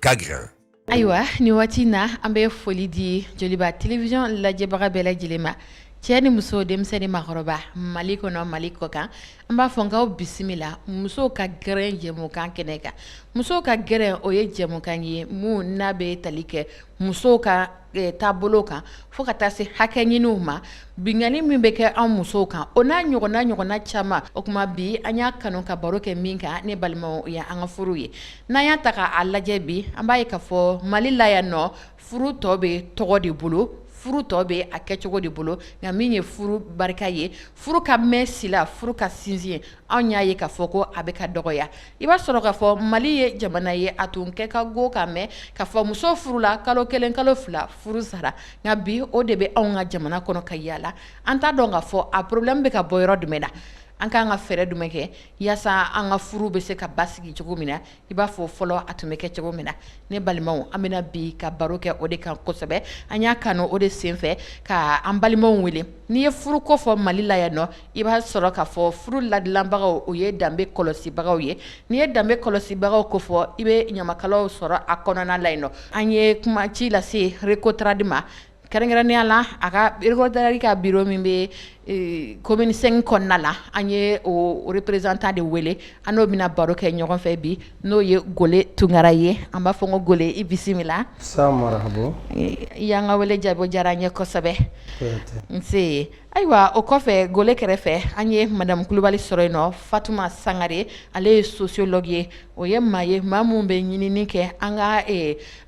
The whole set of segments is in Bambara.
ka gɛrɛn. ayiwa nin waati na an bɛ foli di joliba télévision lajɛbaga bɛɛ lajɛlen ma cɛ ni muso denmisɛn ni maakɔrɔba mali kɔnɔ mali kɔkan an b'a fɔ k'aw bisimila musow ka gɛrɛn jɛmukan kɛnɛ kan musow ka gɛrɛn o ye jɛmukan ye min n'a bɛ tali kɛ musow ka e, taabolo kan fo ka taa se hakɛ ɲiniw ma binkanni min bɛ kɛ an musow kan o n'a ɲɔgɔnna ɲɔgɔnna caman o tuma bi an y'a kanu ka baro kɛ min kan ne balimaw o ye an ka furu ye n'an y'a ta k'a lajɛ bi an b'a ye k'a fɔ mali la yan nɔ furu tɔ bɛ tɔgɔ de bolo furu tɔ bɛ a kɛcogo de bolo nka min ye furu barika ye furu ka mɛn si la furu ka sinsin anw y'a ye k'a fɔ ko a bɛ ka dɔgɔya I b'a sɔrɔ k'a fɔ mali ye jamana ye a tun kɛ ka go k'a mɛn k'a fɔ muso furula kalo kelen kalo fila furu sara nka bi o de bɛ anw ka jamana kɔnɔ ka yalala an t'a dɔn k'a fɔ a problème bɛ ka bɔ yɔrɔ jumɛn na an k'an ka fɛɛrɛ jumɛn kɛ yaasa an ka furu bɛ se ka basigi cogo min na i b'a fɔ fɔlɔ a tun bɛ kɛ cogo min na ne balimaw an bɛna bi ka baro kɛ o de kan kosɛbɛ an y'a kanu o de senfɛ ka an balimaw wele n'i ye furu ko fɔ mali la yan nɔ i b'a sɔrɔ k'a fɔ furu ladilanbagaw o ye danbe kɔlɔsibagaw ye n'i ye danbe kɔlɔsibagaw ko fɔ i bɛ ɲamakalaw sɔrɔ a kɔnɔna la yen nɔ an ye kuma ci lase RECOTRADE ma kɛrɛnkɛrɛnya la a ka RECOTRADE ka biro min bɛ commune cinq kɔnɔna la an ye o représentant de wele an n'o bɛna baro kɛ ɲɔgɔn fɛ bi n'o ye gole tunkara ye an b'a fɔ ko gole i bisimila i y'an ka wele jaabi o diyara an ye kosɛbɛ nse Ayiwa o kɔfɛ gole kɛrɛfɛ an ye madamu kulubali sɔrɔ yen nɔ fatuma sangare ale ye sociologue ye o ye maa ye maa minnu bɛ ɲinini kɛ an ka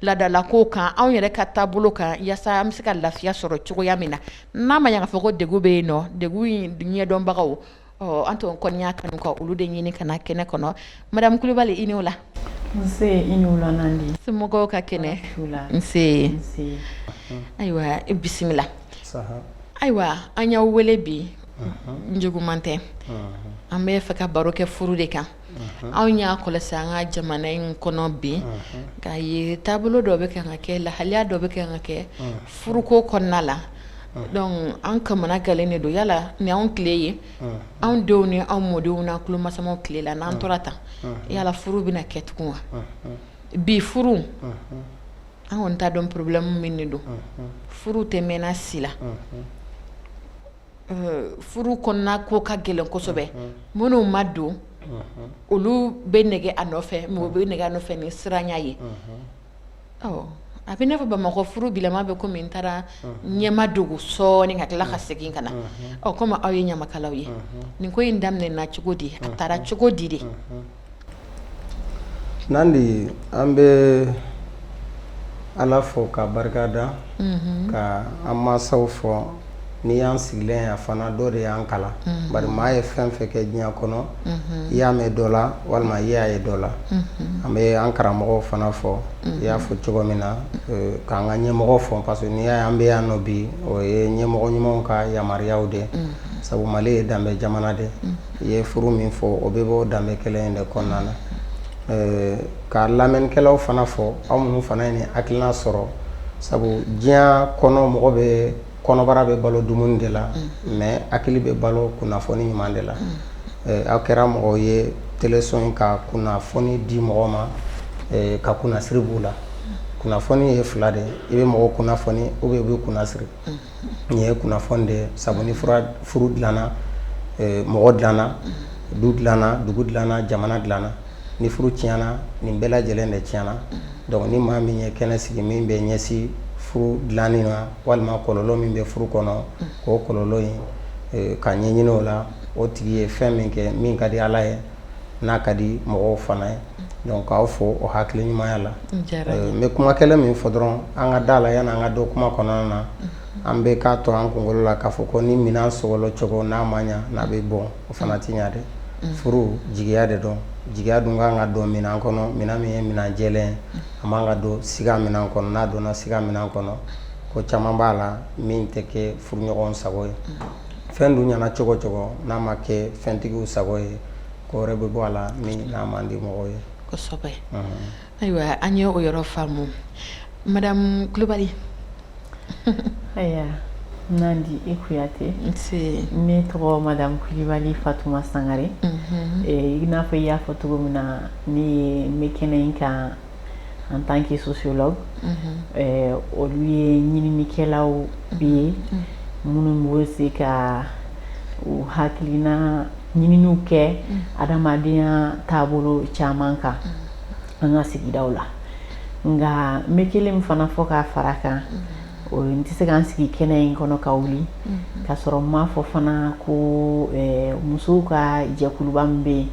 laadalako kan anw yɛrɛ ka taabolo kan yaasa an bɛ se ka lafiya sɔrɔ cogoya min na n'a ma ɲa k'a fɔ ko degun bɛ yen nɔ degun in ɲɛdɔnbagaw Ɔ an tun kɔni y'a kanu ka olu de ɲini ka na kɛnɛ kɔnɔ madamu kulubali i ni wula somɔgɔw ka kɛnɛ ayiwa i bisimila ayiwa an y'aw wele bi juguman tɛ an b'a fɛ ka baro kɛ furu de kan anw y'a kɔlɔsi an ka jamana in kɔnɔ bi k'a ye taabolo dɔ bɛ kan ka kɛ lahalaya dɔ bɛ kan ka kɛ furuko kɔnɔna la an kamanagannen de don yala ni anw tile ye anw denw ni anw mɔdenw n'an tulomasama tile la n'an tora tan yala furu bɛna kɛ tugun wa bi furu an kɔni t'a dɔn problème min de don furu tɛ mɛn si la furu kɔnɔna ko ka gɛlɛn kosɛbɛ minnu ma don olu bɛ nɛgɛ a nɔfɛ mɔgɔ bɛ nɛgɛ a nɔfɛ ni siranya ye a bɛ i n'a fɔ bamakɔ furu gama bɛ komi min taara ɲɛmadogo sɔɔni ka tila ka segin ka na aw komi aw ye ɲamakalaw ye nin ko in daminɛna cogo di a taara cogo di de Nandi an bɛ ala fo ka barika da ka an masaw fo n'i y'an sigilen ye fana dɔ de y'an kalan bari maa ye fɛn fɛn kɛ diɲɛ kɔnɔ i y'a mɛn dɔ la walima i y'a ye dɔ la an bɛ an karamɔgɔw fana fo i y'a fɔ cogo min na k'an ka ɲɛmɔgɔw fo parce que n'i y'a an bɛ yan nɔ bi o ye ɲɛmɔgɔ ɲumanw ka yamaruyaw de sabu mali ye danbe jamana de i ye furu min fɔ o bɛ bɔ danbe kelen in de kɔnɔna na ka lamɛnnikɛlaw fana fo aw minnu fana ye nin hakilina sɔrɔ sabu diɲɛ kɔnɔ mɔgɔ bɛ kɔnɔbara bɛ balo dumuni de la mais hakili bɛ balo kunnafoni ɲuman de la aw kɛra mɔgɔ ye teleso in ka kunnafoni di mɔgɔ ma ka kunnasiri b'u la kunnafoni ye fila de i bɛ mɔgɔ kunnafoni u bɛ u bɛ kunnasiri nin ye kunnafoni de sabu ni furu dilana mɔgɔ dilana du dilana dugu dilana jamana dilana ni furu tiɲɛna nin bɛɛ lajɛlen de tiɲɛna donc ni maa min ye kɛnɛ sigi min bɛ ɲɛsin furu dilanni na walima kɔlɔlɔ min bɛ furu kɔnɔ k'o kɔlɔlɔ in ka ɲɛ ɲinin o la o tigi ye fɛn min kɛ min ka di ala ye n'a ka di mɔgɔw fana ye donc k'aw fo o hakili ɲumanya la n bɛ kuma kelen min fɔ dɔrɔn an ka da la yan an ka don kuma kɔnɔna na an bɛ k'a to an kunkolo la k'a fɔ ko ni minɛn sogolon cogo n'a ma ɲɛ n'a bɛ bɔ o fana tɛ ɲɛ dɛ furu jigiya de don jigiya dun ka kan ka don min kɔnɔ min min ye minɛn jɛ ye a man kan ka don s minɛn kɔnɔ n'a donna s minɛn kɔnɔ ko caman b'a la min tɛ kɛ furuɲɔgɔn sago ye fɛn dun ɲɛna cogo cogo n'a ma kɛ fɛntigiw sago ye ko wɛrɛ bɛ bɔ a la min n'a man di mɔgɔw ye kosɛbɛ ayiwa an ye o yɔrɔ faamu madame kulubali ayiwa nandi i kuyate ne tɔgɔ madame kulubali fatuma sangare i n'a fɔ i y'a fɔ cogo min na ne ye n bɛ kɛnɛ in kan en tant que sociologue olu ye ɲininikɛlaw bi ye minnu bɛ se ka u hakilina ɲininiw kɛ adamadenya taabolo caman kan an ka sigidaw la nka n bɛ kelen fana fɔ k'a fara kan n tɛ se k' sigi kɛnɛ in kɔnɔ ka wuli k'a sɔrɔ n ma fɔ fana ko musow ka jɛkuluba min bɛ yen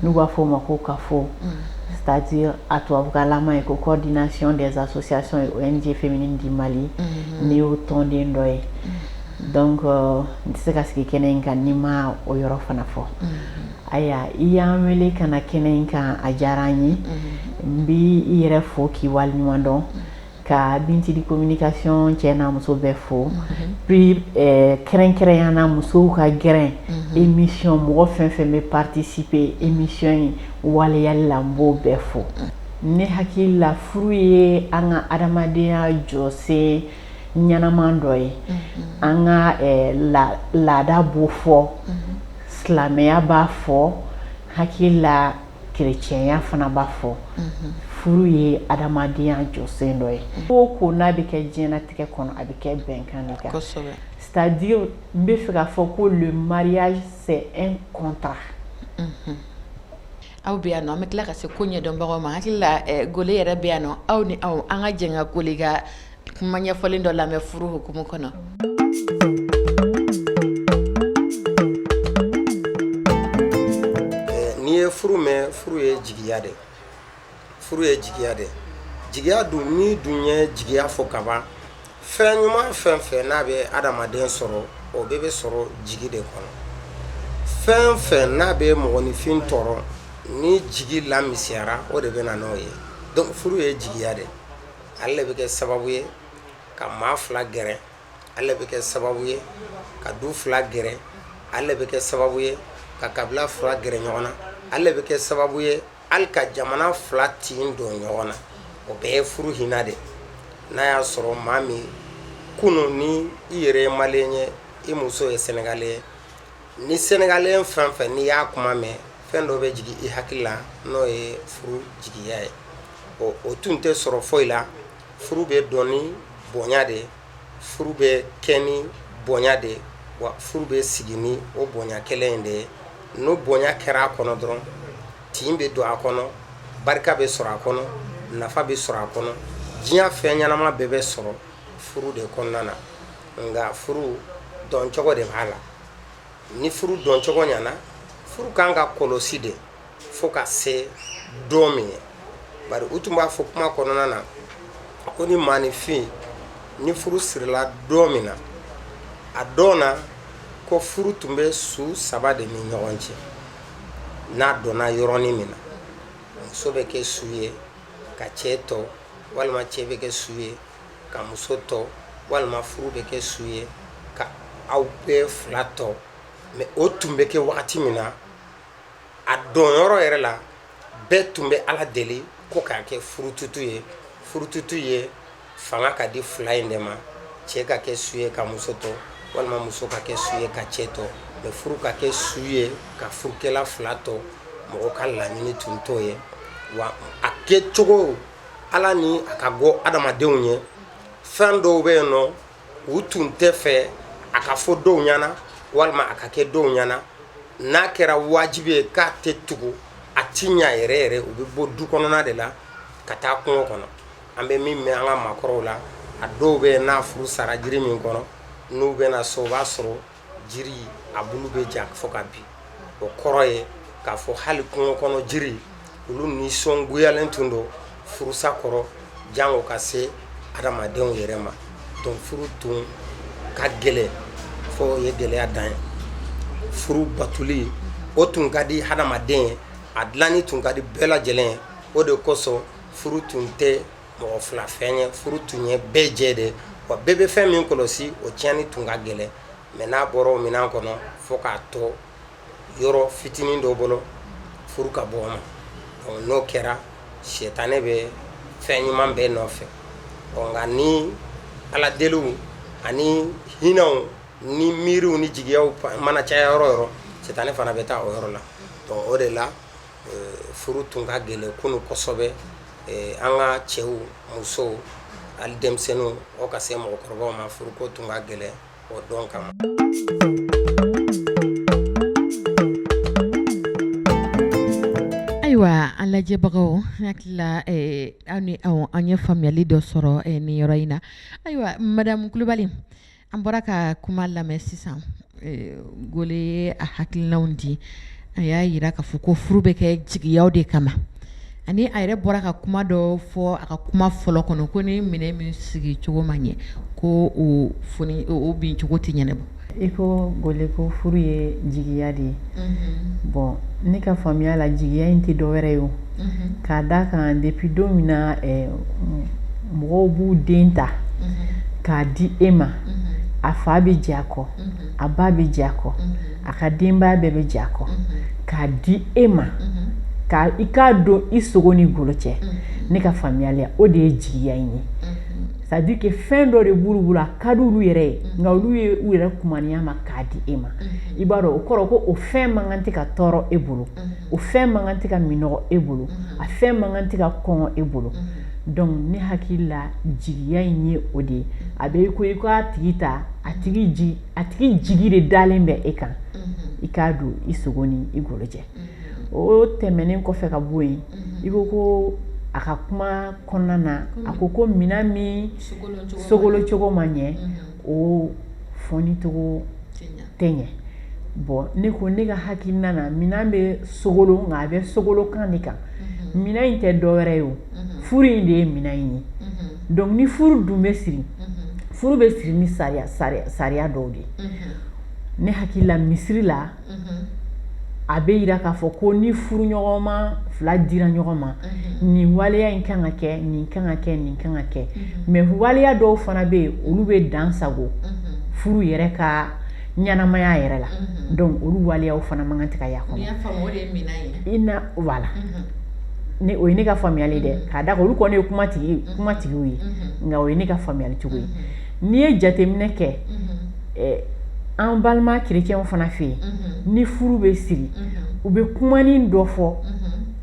n'u b'a fɔ o ma ko cafo c'est-à-dire a tubabukannama ye ko coordination des associations et ong féminines du mali n y'o tɔnden dɔ ye n tɛ se ka sigi kɛnɛ in kan ni n ma o yɔrɔ fana fɔ ayiwa i y'an wele ka kɛnɛ in kan a diyara n ye n bɛ i yɛrɛ fo k'i waleɲumandɔn ka binthily communication cɛ n'a muso bɛɛ fo bi kɛrɛnkɛrɛnya na musow ka gɛrɛn émission mɔgɔ fɛn fɛn bɛ participer émission in waleyali la n b'o bɛɛ fo ne hakili la furu ye an ka adamadenya jɔsen ɲɛnaman dɔ ye an ka laada b'o fɔ silamɛya b'a fɔ hakili la kerecɛnya fana b'a fɔ furu ye adamadenya jɔsen dɔ ye ko ko n'a bɛ kɛ diɲɛnatigɛ kɔnɔ a bɛ kɛ bɛnkan de kan c'est-à-dire n b'a fɛ k'a fɔ ko le mariage c'est un contrat aw bɛ yan nɔ an bɛ tila ka se koɲɛdɔnbagaw ma hakili g yɛrɛ bɛ yan nɔ aw ni an ka jɛ ka ko ka kuma ɲɛfɔlen dɔ lamɛn furu hukumu kɔnɔ n'i ye furu mɛn furu ye jigiya de furu ye jigiya de jigiya dun n'i dun ye jigiya fɔ kaban fɛn ɲuman fɛn fɛn n'a bɛ adamaden sɔrɔ o bɛɛ bɛ sɔrɔ jigi de kɔnɔ fɛn fɛn n'a bɛ mɔgɔninfin tɔɔrɔ ni jigi lamisɛnyara o de bɛ na n'o ye donc furu ye jigiya de ale bɛ kɛ sababu ye ka maa fila gɛrɛ ale bɛ kɛ sababu ye ka du fila gɛrɛ ale bɛ kɛ sababu ye ka kabila fila gɛrɛ ɲɔgɔn na ale bɛ kɛ sababu ye hali ka jamana fila tin don ɲɔgɔn na o bɛɛ ye furu hinɛ de n'a y'a sɔrɔ maa min kunun ni i yɛrɛ ye malien ye i muso ye sénégalais ye ni sénégalais fɛn fɛn n'i y'a kuma mɛn fɛn dɔ bɛ jigin i hakili la n'o ye furu jigiya ye ɔ o tun tɛ sɔrɔ foyi la furu bɛ don ni bonya de ye furu bɛ kɛ ni bonya de ye wa furu bɛ sigi ni o bonya kelen in de ye n'o bonya kɛra a kɔnɔ dɔrɔn tin bɛ don a kɔnɔ barika bɛ sɔrɔ a kɔnɔ nafa bɛ sɔrɔ a kɔnɔ diɲɛ fɛn ɲɛnama bɛɛ bɛ sɔrɔ furu de kɔnɔna na nka furu doncogo de b'a la ni furu doncogo ɲɛna furu kan ka kɔlɔsi de fo ka se don min ye bari u tun b'a fɔ kuma kɔnɔna na ko ni maaninfin ni furu sirila don min na a dɔnna ko furu tun bɛ su saba de ni ɲɔgɔn cɛ n'a donna yɔrɔnin min na muso bɛ kɛ su ye ka cɛ to walima cɛ bɛ kɛ su ye ka muso to walima furu bɛ kɛ su ye ka aw bɛɛ fila to mais o tun bɛ kɛ wagati min na a donyɔrɔ yɛrɛ la bɛɛ tun bɛ ala deli ko k'a kɛ furututu ye furututu ye fanga ka di fila in de ma cɛ ka kɛ su ye ka muso to walima muso ka kɛ su ye ka cɛ to mais furu ka kɛ su ye ka furukɛla fila to mɔgɔ ka laɲini tun t'o ye wa a kɛcogo Ala ni a ka go adamadenw ye fɛn dɔw bɛ yen nɔ u tun tɛ fɛ a ka fɔ dɔw ɲɛna walima a ka kɛ dɔw ɲɛna n'a kɛra wajibi ye k'a tɛ tugu a tiɲɛ yɛrɛ yɛrɛ u bɛ bɔ du kɔnɔna de la ka taa kungo kɔnɔ an bɛ min mɛn an ka maakɔrɔw la a dɔw bɛ yen n'a furu sara jiri min kɔrɔ n'u bɛ na so o b'a sɔrɔ jiri a bulu bɛ ja fo ka bin o kɔrɔ ye k'a fɔ hali kungo kɔnɔ jiri olu nisɔngoyalen tun don furusa kɔrɔ janko ka se adamadenw yɛrɛ ma donc furu tun ka gɛlɛn f'o ye gɛlɛya dan ye furu batoli o tun ka di hadamaden ye a dilanni tun ka di bɛɛ lajɛlen ye o de kosɔn furu tun tɛ mɔgɔ fila fɛn ye furu tun ye bɛɛ jɛ de wa bɛɛ bɛ fɛn min kɔlɔsi o tiɲɛni tun ka gɛlɛn mɛ n'a bɔra o minɛn kɔnɔ fo k'a to yɔrɔ fitinin dɔ bolo furu ka bɔ ma n'o kɛra sitanɛ bɛ fɛn ɲuman bɛɛ nɔfɛ nka ni ala deliw ani hinɛw ni miiriw ni jigiya mana caya yɔrɔ o yɔrɔ sitanɛ fana bɛ taa o yɔrɔ la o de la Furu tun ka gɛlɛn kunun kosɛbɛ an ka cɛw musow ani denmisɛnninw ka se mɔgɔkɔrɔbaw ma furu ko tun ka gɛlɛn o dɔn kama ayiwa an lajɛbagaw hakili la an ye faamuyali dɔ sɔrɔ nin yɔrɔ in na ayiwa madamu Kulibali An bɔra ka kuma lamɛn sisan Gole ye a hakilinaw di a y'a jira k'a fɔ ko furu bɛ kɛ jigiya de kama ani a yɛrɛ bɔra ka kuma dɔ fɔ a ka kuma fɔlɔ kɔnɔ ko ni minɛn min sigi cogo ma ɲɛ ko o foni o bincogo tɛ ɲɛnabɔ i ko Gole ko furu ye jigiya de ye bon ne ka faamuya la jigiya in tɛ dɔ wɛrɛ ye o k'a d' a kan depi don min na mɔgɔw b'u den ta k'a di e ma a fa bɛ diɲɛ a kɔ a ba bɛ diɲɛ a kɔ a ka denbaya bɛɛ bɛ diɲɛ a kɔ k'a di e ma k' i k'a don i sogo ni golo cɛ ne ka faamuyali la o de ye jigiya in ye c'est-à-dire que fɛn dɔ de b'olu bolo a ka di olu yɛrɛ ye nka olu ye u yɛrɛ kumaniya ma k'a di e ma i b'a dɔn o kɔrɔ ko o fɛn man kan tɛ ka tɔɔrɔ e bolo o fɛn man kan tɛ ka minnɔgɔ e bolo a fɛn man kan tɛ ka kɔngɔ e bolo donc ne hakili la jigiya in ye o de ye a bɛ ko i k'a tigi ta a tigi jigi a tigi jigi de dalen bɛ e kan i k'a don i sogo ni i golo cɛ o tɛmɛnen kɔfɛ ka bɔ yen i ko ko a ka kuma kɔnɔna na a ko ko minɛn min sogolon cogo ma ɲɛ o fɔcogo tɛ ɲɛ bɔn ne ko ne ka hakilina na minɛn bɛ sogolon a bɛ sogolon kan de kan minɛn in tɛ dɔwɛrɛ ye o furu in de ye minɛn in ye dɔnku ni furu dun bɛ siri furu bɛ siri ni sariya dɔw de ye ne hakili la misiri la a bɛ jira k'a fɔ ko ni furuɲɔgɔnma fila dira ɲɔgɔn ma nin waleya in kan ka kɛ nin kan ka kɛ nin kan ka kɛ mɛ waleya dɔw fana bɛ yen olu bɛ dansago furu yɛrɛ ka ɲɛnamaya yɛrɛ la dɔnku olu waleya fana man kan ka kɛ a kɔnɔ la ni o ye ne ka faamuyali dɛ k'a da olu kɔni ye kumatigiw ye nka o ye ne ka faamuyali cogo ye n'i ye jateminɛ kɛ an balima kerecɛnw fana fɛ yen ni furu bɛ siri u bɛ kumanin dɔ fɔ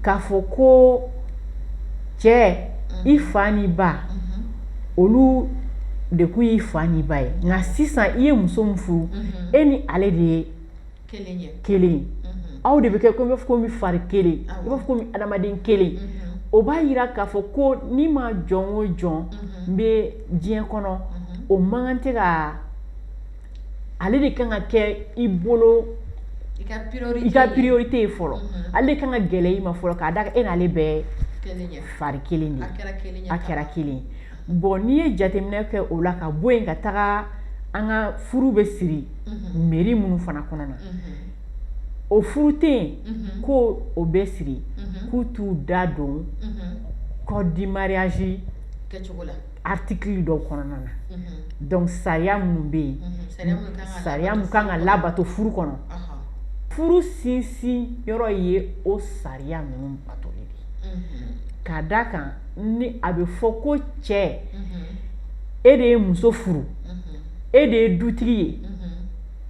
k'a fɔ ko cɛ i fa ni ba olu de kun ye i fa ni ba ye nka sisan i ye muso furu e ni ale de ye kelen aw de bɛ kɛ i b'a fɔ komi fari kelen i b'a fɔ komi adamaden kelen o b'a jira k'a fɔ ko ni maa jɔn o jɔn bɛ diɲɛ kɔnɔ o mankan tɛ ka ale de kan ka kɛ i bolo i ka priorité ye fɔlɔ ale de ka kan ka gɛlɛya i ma fɔlɔ k'a da a kan e n'ale bɛɛ fari kelen de a kɛra kelen bɔn n'i ye jateminɛ kɛ o la ka bɔ yen ka taga an ka furu bɛ siri mhm. mɛri minnu fana kɔnɔna na mhm. o furu tɛ yen mhm. ko o bɛ siri k'u t'u da don code du mariage article dɔw kɔnɔna na dɔnku sariya minnu bɛ yen sariya min kan ka labato furu kɔnɔ furu sinsin yɔrɔ ye o sariya ninnu batoli de ye k'a da a kan ni a bɛ fɔ ko cɛ e de ye muso furu e de ye dutigi ye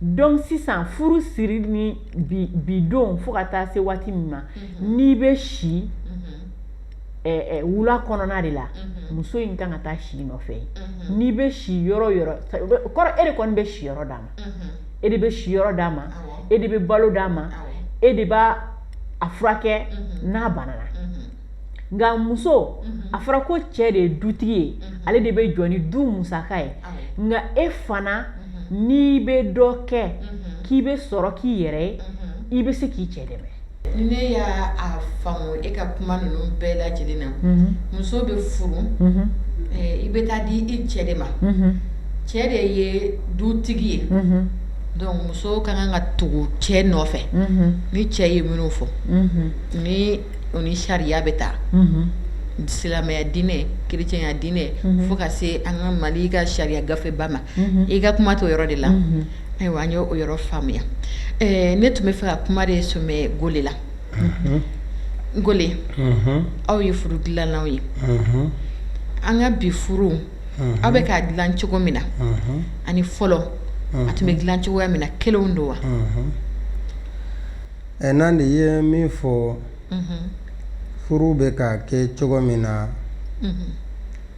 dɔnku sisan furu siri ni bi don fo ka taa se waati min ma n'i bɛ si wula kɔnɔna de la muso in kan ka taa si i nɔfɛ n'i bɛ si yɔrɔ o yɔrɔ e de kɔni bɛ siyɔrɔ d'a ma e de bɛ siyɔrɔ d'a ma e de bɛ balo d'a ma e de b'a furakɛ n'a banana nka muso a fɔra ko cɛ de ye dutigi ye ale de bɛ jɔ ni du musaka ye nka e fana n'i bɛ dɔ kɛ k'i bɛ sɔrɔ k'i yɛrɛ ye i bɛ se k'i cɛ dɛmɛ ne y'a faamu e ka kuma ninnu bɛɛ lajɛlen na muso bɛ furu i bɛ taa di i cɛ de ma cɛ de ye dutigi ye donc muso ka kan ka tugu cɛ nɔfɛ ni cɛ ye minnu fɔ ni o ni sariya bɛ taa silamɛya diinɛ kerecɛnya diinɛ fo ka se an ka Mali in ka sariya gafeba ma i ka kuma to yɔrɔ de la ayiwa an y' o yɔrɔ faamuya ne tun b'a fɛ ka kuma de son go la n go aw ye furu dilannaw ye an ka bi furu aw bɛ k'a dilan cogo min na ani fɔlɔ a tun bɛ dilan cogo min na kelen don wa Ɛ n'an de ye min fɔ furu bɛ ka kɛ cogo min na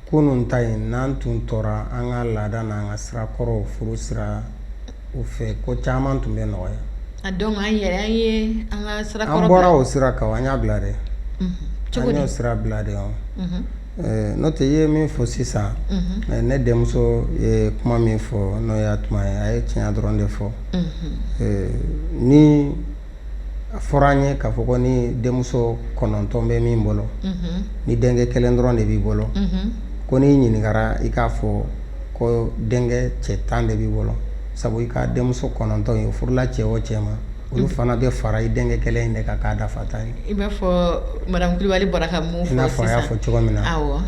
kunun ta ye n'an tun tora an ka laada n' an ka sirakɔrɔ furu siraw fɛ ko caman tun bɛ nɔgɔya an bɔra o sira kan an y'a bila dɛ y'o sira bila de Eh, n'o tɛ ye min fɔ sisan mhm. eh, ne denmuso ye kuma min fɔ n'o ye Hatuma ye a ye tiɲɛ dɔrɔn de fɔ mhm. eh, n'a fɔra an ye k'a fɔ ko ni denmuso kɔnɔntɔn bɛ min bolo mhm. ni denkɛ kelen dɔrɔn de b'i bolo ko n'i ɲininkara i k'a fɔ ko denkɛ cɛ tan de b'i bolo sabu i ka denmuso kɔnɔntɔn ye furula cɛ o cɛ ma olu fana bɛ fara i denkɛ kelen in de kan k'a dafa tan ye i n'a fɔ madame Kulibali bɔra ka min fɔ sisan i n'a fɔ a y'a fɔ cogo min na awɔ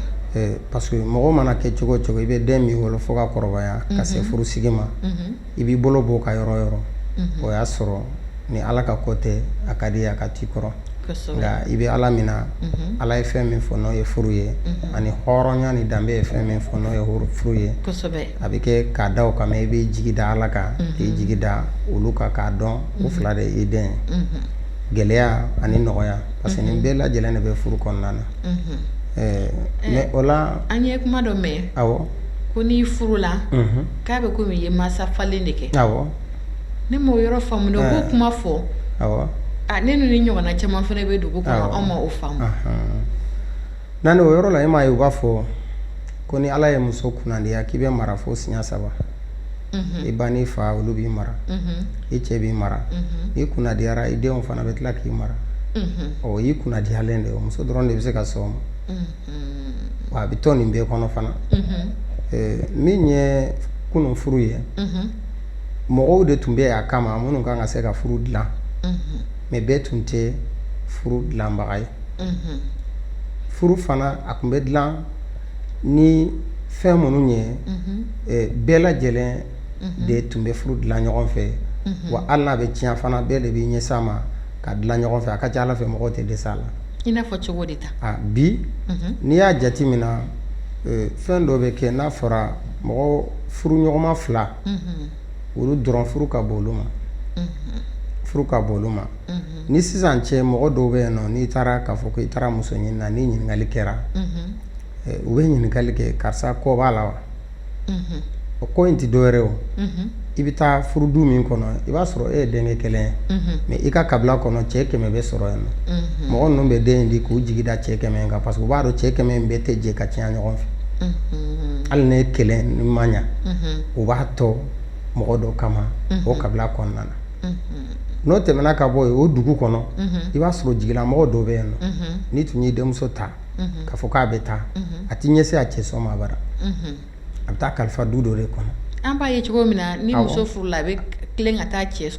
parce que mɔgɔ mana kɛ cogo o cogo i bɛ den min wolo fo ka kɔrɔbaya ka se furusigi ma i b'i bolo b'o kan yɔrɔ o yɔrɔ o y'a sɔrɔ ni Ala ka ko tɛ a ka d'i ye a ka t'i kɔrɔ nka i bɛ ala min na ala ye fɛn min fɔ n'o ye furu ye ani hɔrɔnya ni danbe ye fɛn min fɔ n'o ye furu ye a bɛ kɛ ka da o kan i b'i jigi da ala kan i jigi da olu kan k'a dɔn u fila de i den gɛlɛya ani nɔgɔya parce que nin bɛɛ lajɛlen de bɛ furu kɔnɔna na mɛ o la an ye kuma dɔ mɛn ko n'i furula k'a bɛ ko i ye mansafalen de kɛ Ne ma yɔrɔ faamuya ko kuma fɔlen nin ɲɔgɔnna caman fana bɛ dugu anw ma o faamuya o yɔrɔ la e m ma u b'a fɔ ko ni ala ye muso kundiya k'i bɛ mara fo siɲɛ saba i ba n'i fa olu b'i mara i cɛ b'i mara i kundiyara i denw fana bɛ tila k'i mara o y'i kundiyalen de ye muso dɔrɔn de bɛ se ka so ma wa a bɛ tɔn nin bɛɛ kɔnɔ fana min ye kunun furu ye mɔgɔw de tun bɛ a kama minnu kan ka se ka furu dilan mɛ bɛɛ tun tɛ furu dilanbaga ye furu fana a tun bɛ dilan ni fɛn minnu ye bɛɛ lajɛlen de tun bɛ furu dilan ɲɔgɔn fɛ wa ani n'a bɛ tiɲɛ fana bɛɛ de b'i ɲɛsin a ma k'a dilan ɲɔgɔn fɛ a ka ca ala fɛ mɔgɔ tɛ dɛsɛ a la i n'a fɔ cogo de bi n'i y'a jate min na fɛn dɔ bɛ kɛ n'a fɔra mɔgɔ furu ɲɔgɔnma fila olu dɔrɔn furu ka bon olu ma furu ka bon olu ma ni sisan cɛ mɔgɔ dɔw bɛ yen nɔ n'i taara k'a fɔ ko i taara muso ɲini na ni ɲininkali kɛra u bɛ ɲininkali kɛ karisa kɔ b'a la wa o kɔ in tɛ dɔwɛrɛ o i bɛ taa furu du min kɔnɔ i b'a sɔrɔ e ye denkɛ kelen ye mɛ i ka kabila kɔnɔ cɛ kɛmɛ bɛ sɔrɔ yen nɔ mɔgɔ ninnu bɛ den di k'u jigi da cɛ kɛmɛ kan parce que u b'a dɔn cɛ kɛmɛ in bɛɛ tɛ jɛ ka tiɲɛ ɲɔgɔn fɛ hali n'e kelen nin ma ɲɛ u b'a tɔ mɔgɔ dɔ kama o kabila kɔnɔna na n'o tɛmɛna ka bɔ yen o dugu kɔnɔ i b'a sɔrɔ jigilamɔgɔ dɔ bɛ yen nɔ n'i tun ye denmuso ta k'a fɔ k'a bɛ taa a tɛ ɲɛsin a cɛ somaa bara a bɛ taa kalifa du dɔ de kɔnɔ an b'a ye cogo min na ni muso furula a bɛ ka taa cɛ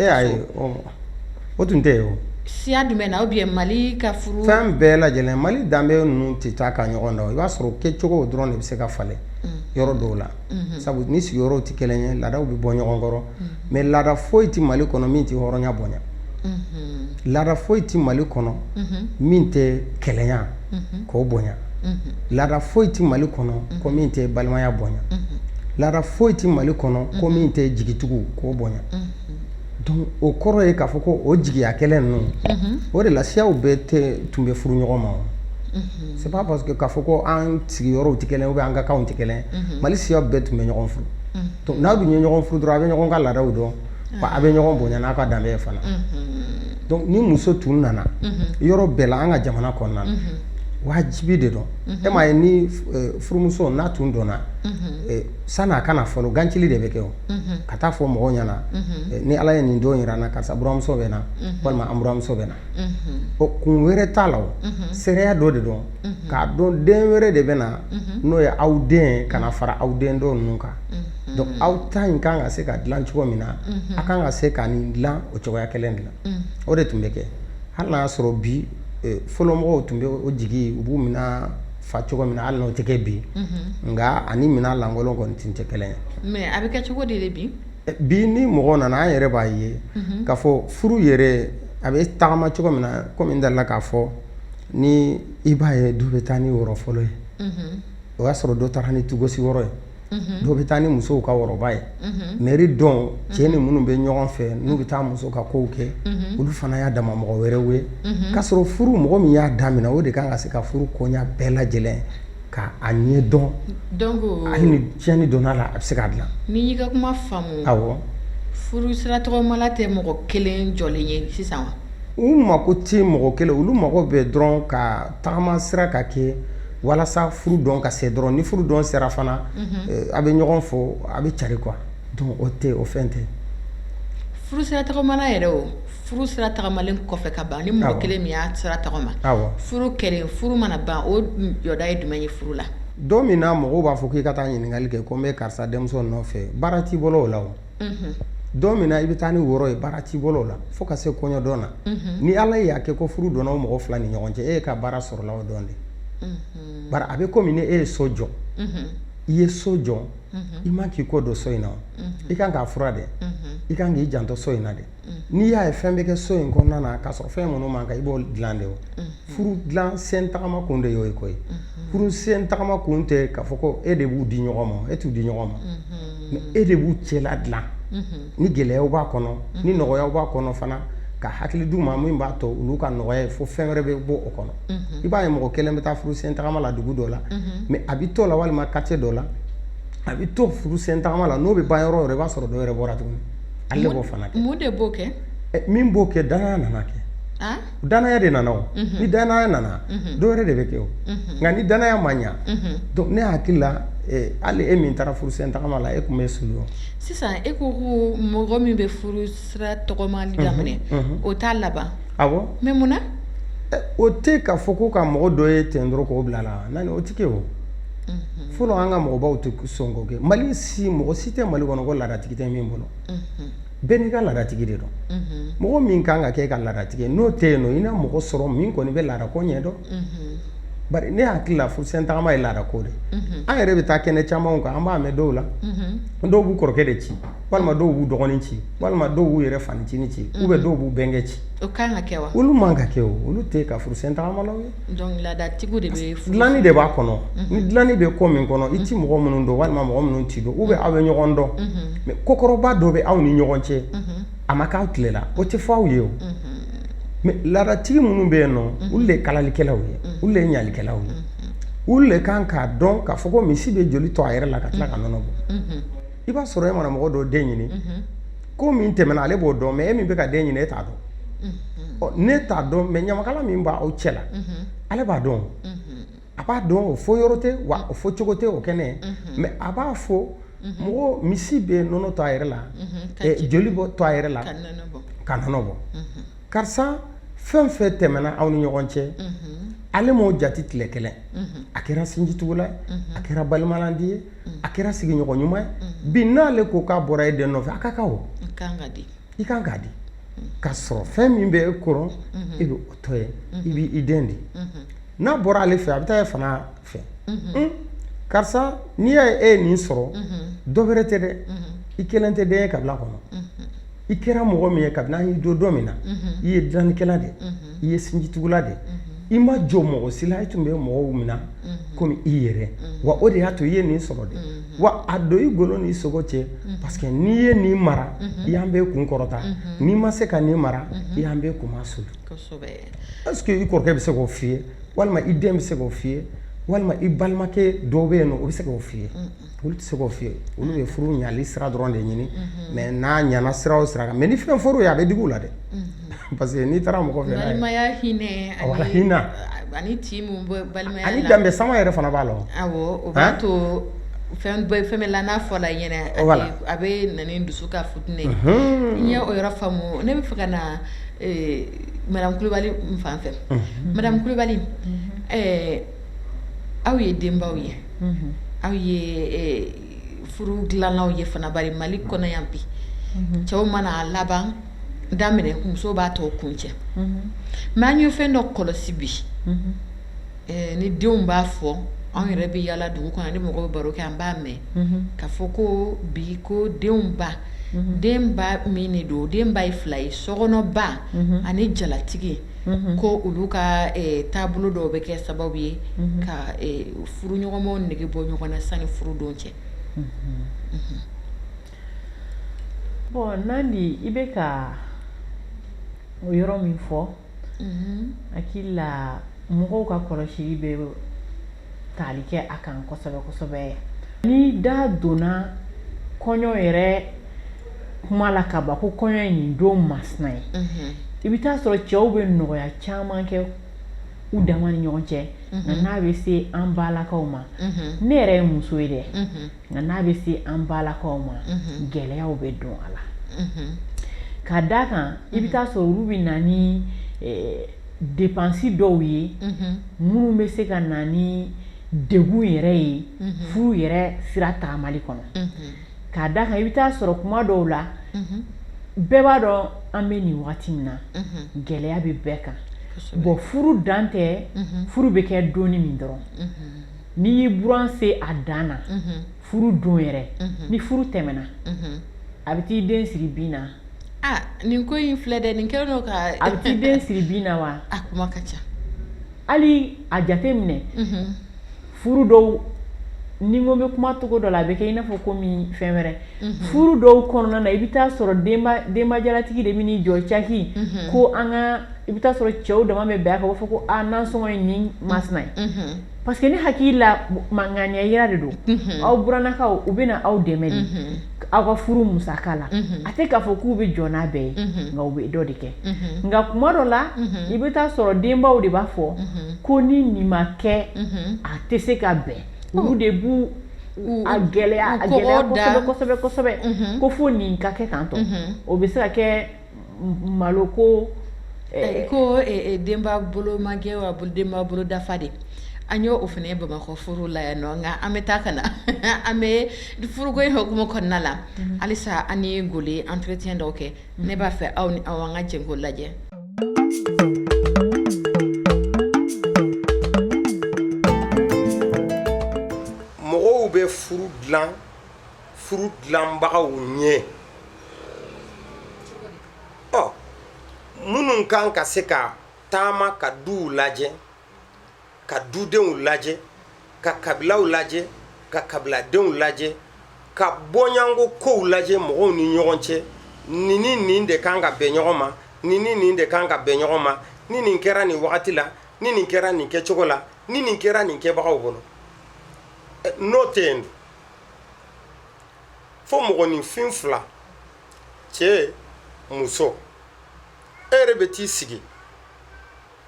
o tun tɛ yen siya jumɛn na o bi mali ka furu fɛn bɛɛ lajɛlen mali danbe ninnu tɛ taa ka ɲɔgɔn dan i b'a sɔrɔ kɛcogo dɔrɔn de bɛ se ka falen mm. yɔrɔ dɔw la mm-hmm. sabu ni sigiyɔrɔ tɛ kelen ye laadaw bɛ bɔ ɲɔgɔn kɔrɔ mm. mɛ laada foyi tɛ mali kɔnɔ min tɛ hɔrɔnya bonya mm-hmm. laada foyi tɛ mali kɔnɔ mm-hmm. min tɛ kelenya ko bonya laada foyi tɛ mali kɔnɔ ko min tɛ balimaya bonya laada foyi tɛ mali kɔnɔ ko min tɛ jigitugu ko bonya Don o kɔrɔ ye k'a fɔ ko o jigiya kelen ninnu o de la u bɛɛ de tun bɛ furu ɲɔgɔn ma c'est pas parce que k'a fɔ ko an sigiyɔrɔ tɛ kelen ye an ka kan tɛ kelen mali siya bɛɛ tun bɛ ɲɔgɔn furu n'a bɛ ɲɛ ɲɔgɔn furu dɔrɔn a bɛ ɲɔgɔn ka laadaw dɔn a bɛ ɲɔgɔn bonya n'a ka dan fana ni muso tun nana yɔrɔ bɛɛ la an ka jamana kɔnɔna wajibi de don e m'a ye ni furumuso natɔ don sann'a ka na fɔlɔ gansi de bɛ kɛ ka taa fɔ mɔgɔw ɲɛna ni ala ye nin don jira na karisa buranmuso bɛ na walima an muso bɛ na ɔ kun wɛrɛ t'a la seereya dɔ de don k'a dɔn den wɛrɛ de bɛ na n'o ye aw den ka fara aw den tɔ ninnu kan don aw ta in kan ka se ka dila cogo min na a kan ka se ka nin dila o cogoya kelen de la o de tun bɛ kɛ hali y'a sɔrɔ bi fɔlɔmɔgɔw tun bɛ o jigin u b'u minɛ fa cogo min na hali n'o tɛ kɛ bi nka a ni minɛn lankolon kɔni tɛ tɛ kelen ye a bɛ kɛ cogo di bi bi ni mɔgɔ nana an yɛrɛ b'a ye k'a fɔ furu yɛrɛ a bɛ tagama cogo min na kɔmi dala k'a fɔ ni i b'a ye dɔ bɛ taa ni woro fɔlɔ ye o y'a sɔrɔ dɔ taara ni tugosi woro ye dɔw bɛ taa ni musow ka woroba ye mɛri don cɛ ni minnu bɛ ɲɔgɔn fɛ n'u bɛ taa muso ka kow kɛ olu fana y'a dama mɔgɔ wɛrɛ ye k'a sɔrɔ furu mɔgɔ min y'a daminɛ o de kan ka se ka furu koɲa bɛɛ lajɛlen k'a ɲɛdɔn ni tiɲɛni donna a la a bɛ se k'a dila n'i ka kuma faamu furu sira tagama tɛ mɔgɔ kelen jɔlen ye sisan u mako tɛ mɔgɔ kelen olu mago bɛ dɔrɔn ka taama sira ka kɛ walasa furu don ka se dɔrɔn ni furu don sera fana eh, a bɛ ɲɔgɔn fo a bɛ cari quoi donc o tɛ o fɛn tɛ furu sira tagamana yɛrɛ o furu sira tagamalen kɔfɛ ka ban ni mɔgɔ kelen min y'a sira tagama furu kɛlen furu mana ban o jɔda ye jumɛn ye furu la don min na mɔgɔw b'a fɔ k'i ka taa ɲininkali kɛ ko n bɛ karisa denmuso nɔfɛ baara t'i bolo o la o don min na i bɛ taa ni woro ye baara t'i bolo la fo ka se kɔɲɔdon na ni ala y'a kɛ ko furu donna o mɔgɔ fila ni ɲɔgɔn cɛ e ye ka baara sɔrɔla o don de bari a bɛ komi e ye so jɔ i ye so jɔ i man k'i kɔ don so in na i kan k'a furan dɛ i kan k'i janto so in na dɛ n'i y'a ye fɛn bɛ kɛ so in kɔnɔna na k'a sɔrɔ fɛn minnu man kan i b'o dila de furu dila sen tagama kun de y'o ye koyi furu sen tagama kun tɛ k'a fɔ ko e de b'u di ɲɔgɔn ma e t'u di ɲɔgɔn ma mɛ e de b'u cɛla dila ni gɛlɛya b'a kɔnɔ ni nɔgɔya b'a kɔnɔ fana ka hakili d'u ma min b'a to olu ka nɔgɔya ye fo fɛn wɛrɛ bɛ bɔ o kɔnɔ i b'a ye mɔgɔ kelen bɛ taa furu sen tagama la dugu dɔ la mɛ a bɛ to la walima kartiye dɔ la a bɛ to furu sen tagama la n'o bɛ ba yɔrɔ yɔrɔ i b'a sɔrɔ dɔ wɛrɛ bɔra tuguni Ale b'o fana kɛ mun de b'o kɛ min b'o kɛ dannaya nana kɛ dannaya de nana ni dannaya nana dɔ wɛrɛ de bɛ kɛ o nka ni dannaya ma ɲɛ ne hakili la hali e min taara furu sen tagama la e tun bɛ su sisan e ko ko mɔgɔ min bɛ furu sira tagama daminɛ o t'a laban a mɛ mun na o tɛ k'a fɔ ko ka mɔgɔ dɔ ye ten dɔrɔn k'o bila la o tɛ kɛ o fɔlɔ an ka mɔgɔbaw tɛ sɔn kɛ mali si mɔgɔ si tɛ mali kɔnɔ ko laadatigi tɛ min bolo bɛɛ n'i ka laadatigi de don mɔgɔ min kan ka kɛ e ka laadatigi n'o tɛ yen nɔ i na mɔgɔ sɔrɔ min kɔni bɛ laadako ɲɛ dɔn bari ne hakili la furu sen tagama ye laadako de an yɛrɛ bɛ taa kɛnɛ camanw kan an b'a mɛn dɔw la dɔw b'u kɔrɔkɛ de ci walima dɔw b'u dɔgɔnin ci walima dɔw b'u yɛrɛ fancinin ci u bɛ dɔw b'u bɛnkɛ ci olu man ka kɛ olu tɛ ka furu sen tagama ye Laadatigiw de dilanni de b'a kɔnɔ ni dilanni bɛ ko min kɔnɔ i tɛ mɔgɔ minnu dɔn walima mɔgɔ minnu t'i dɔn u bɛ aw bɛ ɲɔgɔn dɔn mɛ kokɔrɔba dɔ bɛ aw ni ɲɔgɔn cɛ a ma k'aw tile la o tɛ fɔ aw ye o mɛ laadatigi minnu bɛ yen olu de ye kalalikɛlaw ye olu de ye ɲalikɛlaw ye olu de kan k'a dɔn k'a fɔ ko misi bɛ joli to a yɛrɛ la ka tila ka nɔnɔ bɔ i b'a sɔrɔ e mana mɔgɔ dɔ den ɲini ko min tɛmɛna ale b'o dɔn mɛ e min bɛ ka den ɲini e t'a dɔn ne t'a dɔn mɛ ɲamakala min b'aw cɛla la ale b'a dɔn a b'a dɔn o fɔ yɔrɔ tɛ wa o fɔ cogo tɛ o kɛnɛ mɛ a b'a fɔ mɔgɔ misi bɛ nɔnɔ to a yɛrɛ la joli bɔ to a yɛrɛ la ka nɔnɔ bɔ karisa fɛn fɛn tɛmɛna aw ni ɲɔgɔn cɛ ale m'o jate tile kelen a kɛra sinjiugula a kɛra balimalandi ye a kɛra sigiɲɔgɔn ɲuman ye bi n'ale ko k'a bɔra e den nɔfɛ a ka kan o i kan k'a di ka sɔrɔ fɛn min bɛ e kɔrɔ e bɛ o tɔ ye i bɛ i den di n'a bɔra ale fɛ a bɛ taa e fana fɛ karisa n'i y'a ye e ye nin sɔrɔ dɔ wɛrɛ tɛ dɛ i kelen tɛ den ye kabila kɔnɔ i kɛra mɔgɔ min ye kabini an y'i dɔn don min na i ye dilannikɛla de ye i ye sinjitugula de i ma jɔn mɔgɔ si la i tun bɛ mɔgɔw mina komi i yɛrɛ wa o de y'a to i ye nin sɔrɔ de wa a don i golo ni i sogo cɛ parce que n'i ye nin mara i y'an bɛɛ kun kɔrɔta n'i ma se ka nin mara i y'an bɛɛ kunmasuuli i kɔrɔkɛ bɛ se k'o fɔ i ye walima i den bɛ se k'o fɔ i ye walima i balimakɛ dɔ bɛ yen o bɛ se k'o fɔ i ye Olu tɛ se k'o fɔ i ye olu ye furu ɲali sira dɔrɔn de ɲini mɛ n'a ɲana sira o sira kan mɛ ni fɛn fɔr'i ye a bɛ digi i la dɛ parce que n'i taara mɔgɔ fɛ danbe sama yɛrɛ fana b'a la fɛn fɛn la n'a fɔ la a bɛ na dusu kasi n ye o yɔrɔ faamu ne b'a fɛ ka na madamu kulubali fan fɛ madamu kulubali aw ye denbaw ye aw ye furu dilanlaw ye fana bari mali kɔnɔ yan bi cɛw man'a laban daminɛ muso b'a tɔ kuncɛ mɛ an ye fɛn dɔ kɔlɔsi bi ni denw b'a fɔ anw yɛrɛ bɛ yaala dugu kɔnɔ ni mɔgɔ bɛ baro kɛ an b'a mɛn ka fɔ ko bi ko denw ba denba min de don denba ye fila ye sokɔnɔba ani jalatigi ko olu ka taabolo dɔw bɛ kɛ sababu ye ka furuɲɔgɔnw nege bɔ ɲɔgɔn na sanni furudon cɛ bɔn nandi i bɛ ka o yɔrɔ min fɔ hakili la mɔgɔw ka kɔlɔsili bɛ tali kɛ a kan kosɛbɛ kosɛbɛ ni da donna kɔɲɔ yɛrɛ kuma la ka ban ko kɔɲɔ in nin don masina ye i bɛ taa sɔrɔ cɛw bɛ nɔgɔya caman kɛ u dama ni ɲɔgɔn cɛ nka n'a bɛ se an balakaw ma ne yɛrɛ ye muso ye dɛ nka n'a bɛ se an balakaw ma gɛlɛyaw bɛ don a la ka d' a kan i bɛ taa sɔrɔ olu bɛ na depansi dɔw ye minnu bɛ se ka na ni degun yɛrɛ ye furu yɛrɛ sira taamali kɔnɔ k'a d'a kan i bɛ taa sɔrɔ kuma dɔw la bɛɛ b'a dɔn an bɛ nin waati min na gɛlɛya bɛ bɛɛ kan bɔn furu dan tɛ furu bɛ kɛ don min dɔrɔn n'i y'i buran se a dan na furu don yɛrɛ ni furu tɛmɛna a bɛ taa i den siri bin na nin ko in filɛ dɛ nin kɛ don ka a bɛ taa den siri bin na wa a kuma ka ca hali a jate minɛ furu dɔw ni ko bɛ kuma cogo dɔ la a bɛ kɛ i n'a fɔ komi fɛn wɛrɛ furu dɔw kɔnɔna na i bɛ taa sɔrɔ denbajalatigi de bɛ jɔ caki ko an ka i bɛ taa sɔrɔ cɛw dama bɛ bɛn a kan k'a fɔ ko nansɔngɔ ye nin masina ye Parce que ne hakili la ŋaniya jira de don aw burannakaw u bɛ aw dɛmɛ de aw ka furu musaka la a tɛ k'a fɔ k'u bɛ jɔ n'a bɛɛ ye nka u bɛ dɔ de kɛ nka kuma dɔ la i bɛ taa sɔrɔ denbaw de b'a fɔ ko ni nin ma kɛ a tɛ se ka bɛn olu de b' a gɛlɛya gɛlɛya ko fo nin ka kɛ tan dɔrɔn o bɛ se ka kɛ Malo ko ko denba bolo magɛn wa denba bolo dafa de an y' o fana ye bamakɔ furu la yan nɔ nka an bɛ taa ka na an bɛ furuko in hukumu kɔnɔna la halisa an ye gole entretien dɔw kɛ ne b'a fɛ aw ni aw an ka jɛ k'o lajɛ mɔgɔw bɛ furu dilan furu dilanbagaw ɲɛ ɔ minnu kan ka se ka taama ka duw lajɛ ka dudenw lajɛ ka kabilaw lajɛ ka kabiladenw lajɛ ka bɔɲɔgɔnko kow lajɛ mɔgɔw ni ɲɔgɔn cɛ nin ni nin de kan ka bɛn ɲɔgɔn ma nin ni nin de kan ka bɛn ɲɔgɔn ma ni nin kɛra nin wagati la ni nin kɛra nin kɛcogo la ni nin kɛra nin kɛbagaw bolo n'o tɛ yen dun fo mɔgɔninfin fila cɛ muso e yɛrɛ bɛ t'i sigi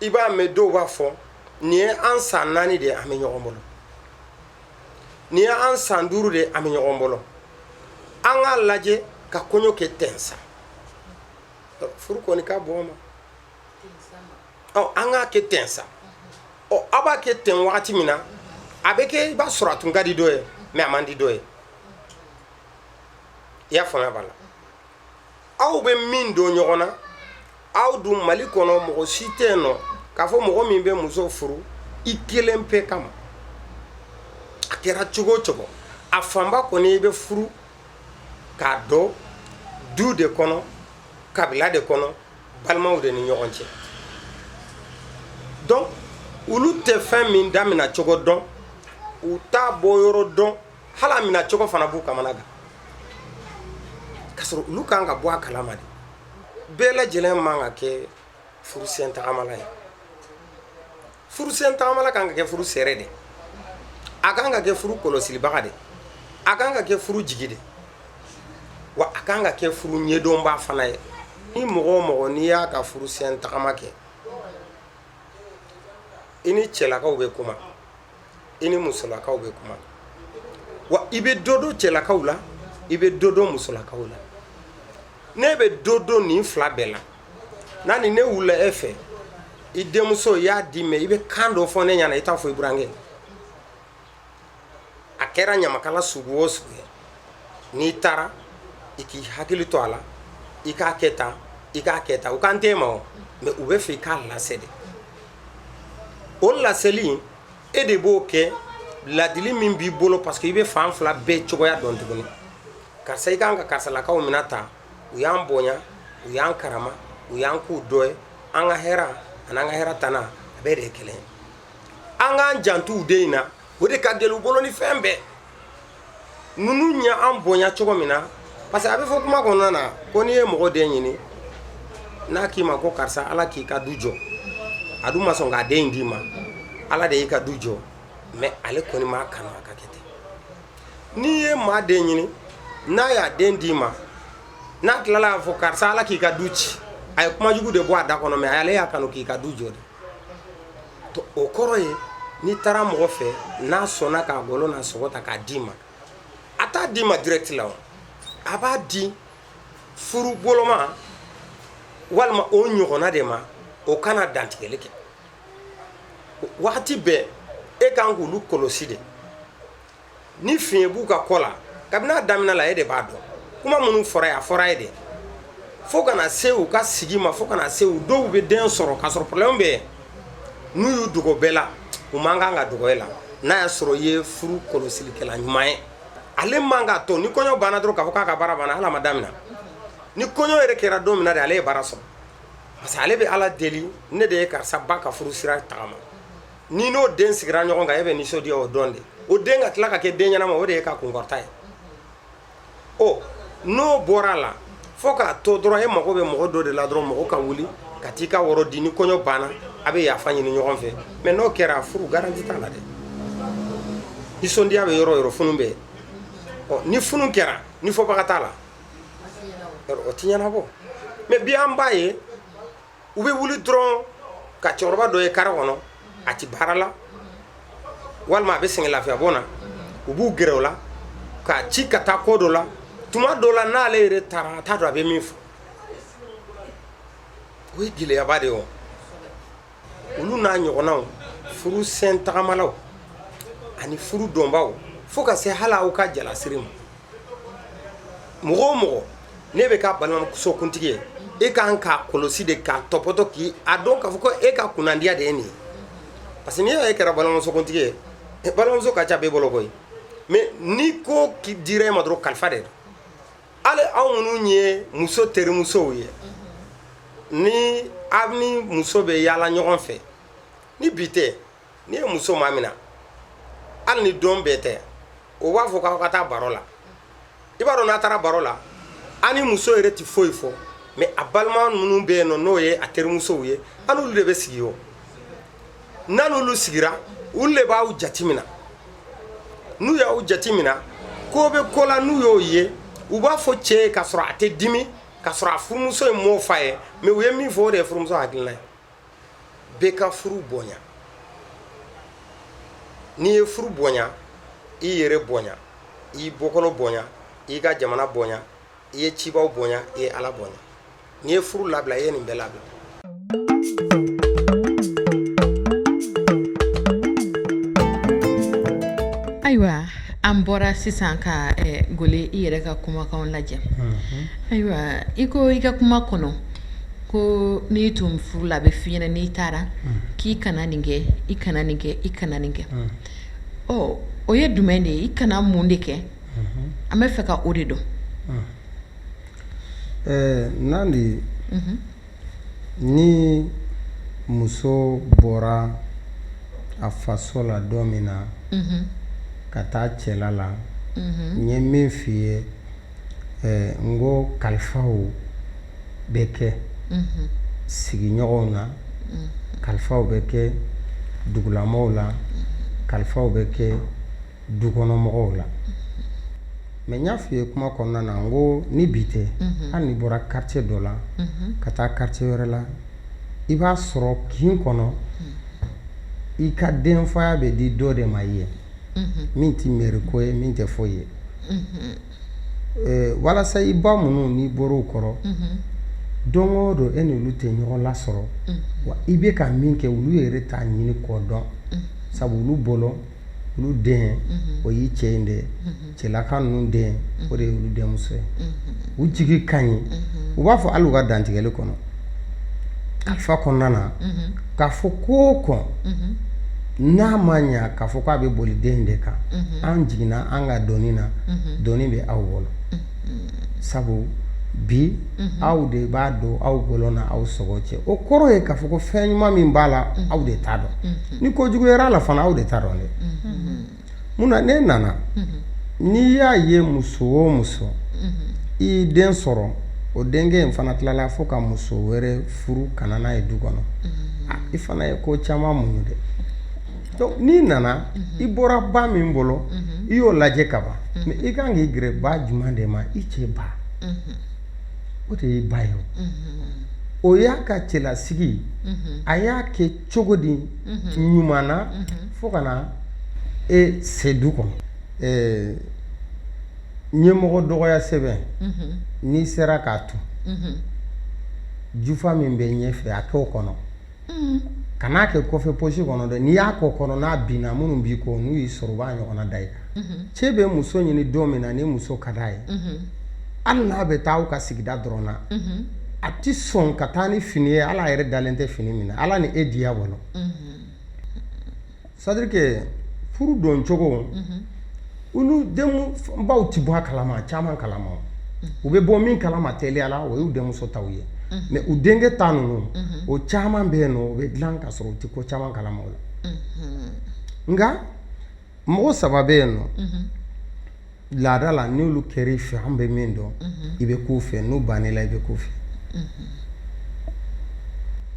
i b'a mɛn dɔw b'a fɔ nin ye an san naani de ye an bɛ ɲɔgɔn bolo nin ye an san duuru de ye an bɛ ɲɔgɔn bolo an k'a lajɛ ka kɔɲɔ kɛ ten sa furu kɔni ka bɔ ma an k'a kɛ ten sa ɔ aw b'a kɛ ten wagati min na a bɛ kɛ i b'a sɔrɔ a tun ka di dɔ ye mais a man di dɔ ye i y'a faamuya b'a la aw bɛ min dɔn ɲɔgɔn na aw dun mali kɔnɔ mɔgɔ si tɛ yen nɔ k'a fɔ mɔgɔ min bɛ muso furu i kelen pe kama a kɛra cogo o cogo a fanba kɔni i bɛ furu k'a don du de kɔnɔ kabila de kɔnɔ balimaw de ni ɲɔgɔn cɛ donc olu tɛ fɛn min damina cogo dɔn u t'a bɔ yɔrɔ dɔn hali a mina cogo fana b'u kamana gan k'a sɔrɔ olu kan ka bɔ a kalama de bɛɛ lajɛlen man ka kɛ furusen tagamala ye furusen tagamala ka kan ka kɛ furu seere de a ka kan ka kɛ furu kɔlɔsibaga de a ka kan ka kɛ furu jigi de wa a ka kan ka kɛ furu ɲɛdɔnba fana ye ni mɔgɔ o mɔgɔ n'i y'a ka furusen tagama kɛ i ni cɛlakaw bɛ kuma i ni musolakaw bɛ kuma wa i bɛ dɔ dɔn cɛlakaw la i bɛ dɔ dɔn musolakaw la n'i bɛ dɔ dɔn nin fila bɛɛ la n'a ni ne wulila e fɛ i denmuso y'a di mɛ i bɛ kan dɔ fɔ ne ɲɛna i t'a fɔ i burankɛ a kɛra ɲamakala sugu o sugu ye n'i taara i k'i hakili to a la i k'a kɛ tan i k'a kɛ tan u k'an tɛ ma o mɛ u bɛ fɛ i k'a lase de o laseli in e de b'o kɛ ladili min b'i bolo parce que i bɛ fan fila bɛɛ cogoya dɔn tuguni karisa i kan ka karisalakaw minɛ ta u y'an bonya u y'an karama u y'an k'u dɔ ye an ka hɛrɛ ani an ka hɛrɛtan a bɛɛ de ye kelen an k'an janto u den in na o de ka gɛlɛn u bolo ni fɛn bɛɛ ninnu ye an bonya cogo min na parce que a bɛ fɔ kuma kɔnɔna na ko n'i ye mɔgɔ den ɲini n'a k'i ma ko karisa ala k'i ka du jɔ a dun ma sɔn k'a den in d'i ma ala de y'i ka du jɔ mɛ ale kɔni m'a kanu a ka kɛ ten N'i ye maa den ɲini n'a y'a den d'i ma n'a tilala k'a fɔ karisa ala k'i ka du ci a ye kuma jugu de bɔ a da kɔnɔ mɛ ale y'a kanu k'i ka du jɔ de o kɔrɔ ye n'i taara mɔgɔ fɛ n'a sɔnna k'a bolo na sogo ta k'a d'i ma a t'a d'i ma direct la o a b'a di furu boloma walima o ɲɔgɔnna de ma o ka na dantigɛli kɛ wagati bɛɛ e kan k'olu kɔlɔsi de ni fiɲɛ b'u ka ko la kabini a daminɛ la e de b'a dɔn kuma minnu fɔra ye a fɔra ye de fo ka na se u ka sigi ma fo ka na se u dɔw bɛ den sɔrɔ k'a sɔrɔ problème bɛ n'u y'u dogo bɛɛ la u man kan ka dogo e la n'a y'a sɔrɔ i ye furu kɔlɔsilikɛla ɲuman ye ale man k'a to ni kɔɲɔ banna dɔrɔn k'a fɔ k'a ka baara banna hali a ma daminɛ ni kɔɲɔ yɛrɛ kɛra don min na de ale ye baara sɔrɔ parce que ale bɛ Ala deli ne de ye karisa ba ka furu sira tagama N'i n'o den sigira ɲɔgɔn kan e bɛ nisɔndiya o don de o den ka tila ka kɛ den ɲɛnama o de y'i ka kunta ye ɔ n'o bɔra a la fo k'a to dɔrɔn e mago bɛ mɔgɔ dɔ de la dɔrɔn mɔgɔ ka wuli ka t'i ka woro di ni kɔɲɔ banna a bɛ yafa ɲini ɲɔgɔn fɛ mɛ n'o kɛra furu garanti t'a la dɛ nisɔndiya bɛ yɔrɔ o yɔrɔ funu bɛ ɔ ni funu kɛra ni fɔbaga t'a la o tɛ ɲɛnabɔ mɛ bi an b'a ye u bɛ wuli dɔrɔn ka cɛkɔrɔba dɔ ye kare kɔnɔ a tɛ baara la walima a bɛ sɛgɛn lafiya bɔ na u b'u gɛrɛ o la k'a ci ka taa ko dɔ la tuma dɔ la n'ale yɛrɛ taara a t'a dɔn a bɛ min fɔ o ye gɛlɛyaba de ye olu n'a ɲɔgɔnnaw furu sen tagamalaw ani furu dɔnbaw fo ka se hali aw ka jalasiri ma mɔgɔ o mɔgɔ n'e bɛ kɛ balimamusokuntigi ye e ka kan k'a kɔlɔsi de k'a tɔpɔtɔ k'i a dɔn k'a fɔ ko e ka kunnandiya de ye nin ye parce que n'i y'a ye e kɛra balimamusokuntigi ye e, balimamuso ka ca b'e bolo koyi mais ni ko dira e ma dɔrɔn kalifa de don hali aw minnu ye muso terimusow ye ni aw ni muso bɛ yaala ɲɔgɔn fɛ ni bi tɛ n'i ye muso maminɛ hali ni don bɛɛ tɛ o b'a fɔ k'aw ka taa baro la i b'a dɔn n'aw taara baro la aw ni muso yɛrɛ tɛ foyi fɔ mɛ a balima minnu bɛ yen nɔ n'o ye a terimusow ye aw ni olu de bɛ sigi o n'aw ni olu sigira olu de b'aw jateminɛ n'u y'aw jateminɛ ko bɛ ko la n'u y'o ye u b'a fɔ cɛ ye k'a sɔrɔ a tɛ dimi k'a sɔrɔ a furumuso ye mɔgɔw fa ye mɛ u ye min fɔ o de ye furumuso hakilina ye bɛɛ ka furu bonya n'i ye furu bonya i yɛrɛ bonya i bɔkolo bonya i ka jamana bonya i ye cibaw bonya i ye ala bonya n'i ye furu labila i ye nin bɛɛ labila ayiwa an bɔra sisan ka eh, gole i yɛrɛ ka kumakanw lajɛ ayiwa i ko i ka kuma kɔnɔ Ko n'i tun furula a bɛ f'i ɲɛ na n'i taara k'i kana nin kɛ i kana nin kɛ i kana nin kɛ ɔ o ye jumɛn de ye i kana mun de kɛ an b'a fɛ ka o de dɔn ɛɛ n'an de ye ni muso bɔra a faso la don min na ka taa cɛla la n ye min f' i ye n ko kalifaw bɛ kɛ sigiɲɔgɔnw na kalifaw bɛ kɛ dugulamɔgɔw la kalifaw bɛ kɛ dukɔnɔmɔgɔw la mɛ n y'a f'i ye kuma kɔnɔna na n ko ni bi tɛ hali n'i bɔra kartiye dɔ la ka taa kartiye wɛrɛ la i b'a sɔrɔ kin kɔnɔ i ka denfaya bɛ di dɔ de ma ye min tɛ miri ko ye min tɛ foyi ye Ɛɛ walasa i ba minnu n'i bɔra u kɔrɔ don o don e ni olu tɛ ɲɔgɔn lasɔrɔ wa i bɛ ka min kɛ olu yɛrɛ t'a ɲini k'o dɔn sabu olu bolo olu den o y'i cɛ in de cɛlaka ninnu den o de ye olu denmuso ye u jigi ka ɲi u b'a fɔ hali u ka dantigɛli kɔnɔ Ka fa kɔnɔna na ka fɔ ko ko n'a ma ɲɛ ka fɔ k'a bɛ boli den de kan an jiginna an ka doni na doni bɛ aw bolo sabu bi aw de b'a don aw wolo ni aw sogo cɛ o kɔrɔ ye ka fɔ ko fɛn ɲuman min b'a la aw de ta don ni ko juguyara a la fana aw de ta don dɛ Mun na ne nana n'i y'a ye muso o muso y'i den sɔrɔ o denkɛ in fana tilala fo ka muso wɛrɛ furu ka na n'a ye du kɔnɔ i fana ye ko caman muɲu dɛ n'i nana i bɔra ba min bolo i y'o lajɛ ka ban mɛ i kan ka gɛrɛ ba jumɛn de ma i cɛ ba o de y'i ba ye o y'a ka cɛlasigi a y'a kɛ cogo di ɲuman na fo ka na e se du kɔnɔ ɛɛ ɲɛmɔgɔ dɔgɔya sɛbɛn n'i sera k'a to jufa min bɛ ɲɛ fɛ a kɛ o kɔnɔ kana a kɛ kɔfɛ pɔsi kɔnɔ dɛ n'i y'a k'o kɔnɔ n'a binna minnu b'i kɔ n'u y'i sɔrɔ u b'a ɲɔgɔnna da i kan cɛ bɛ muso ɲini don min na ni muso ka di a ye hali n'a bɛ taa a ka sigida dɔrɔn na a tɛ sɔn ka taa ni fini ye ale yɛrɛ dalen tɛ fini min na ala ni e diya bolo sarike furu don cogo olu baw tɛ bɔ kalama caman kalama u bɛ bɔ min kalama teliya la o y'u denmuso ta ye mɛ u denkɛ ta ninnu o caman bɛ yen nɔ o bɛ dilan ka sɔrɔ u tɛ ko caman kalama la nka mɔgɔ saba bɛ yen nɔ laada la n'olu kɛra i fɛ an bɛ min dɔn i bɛ k'u fɛ n'u banna i la i bɛ k'u fɛ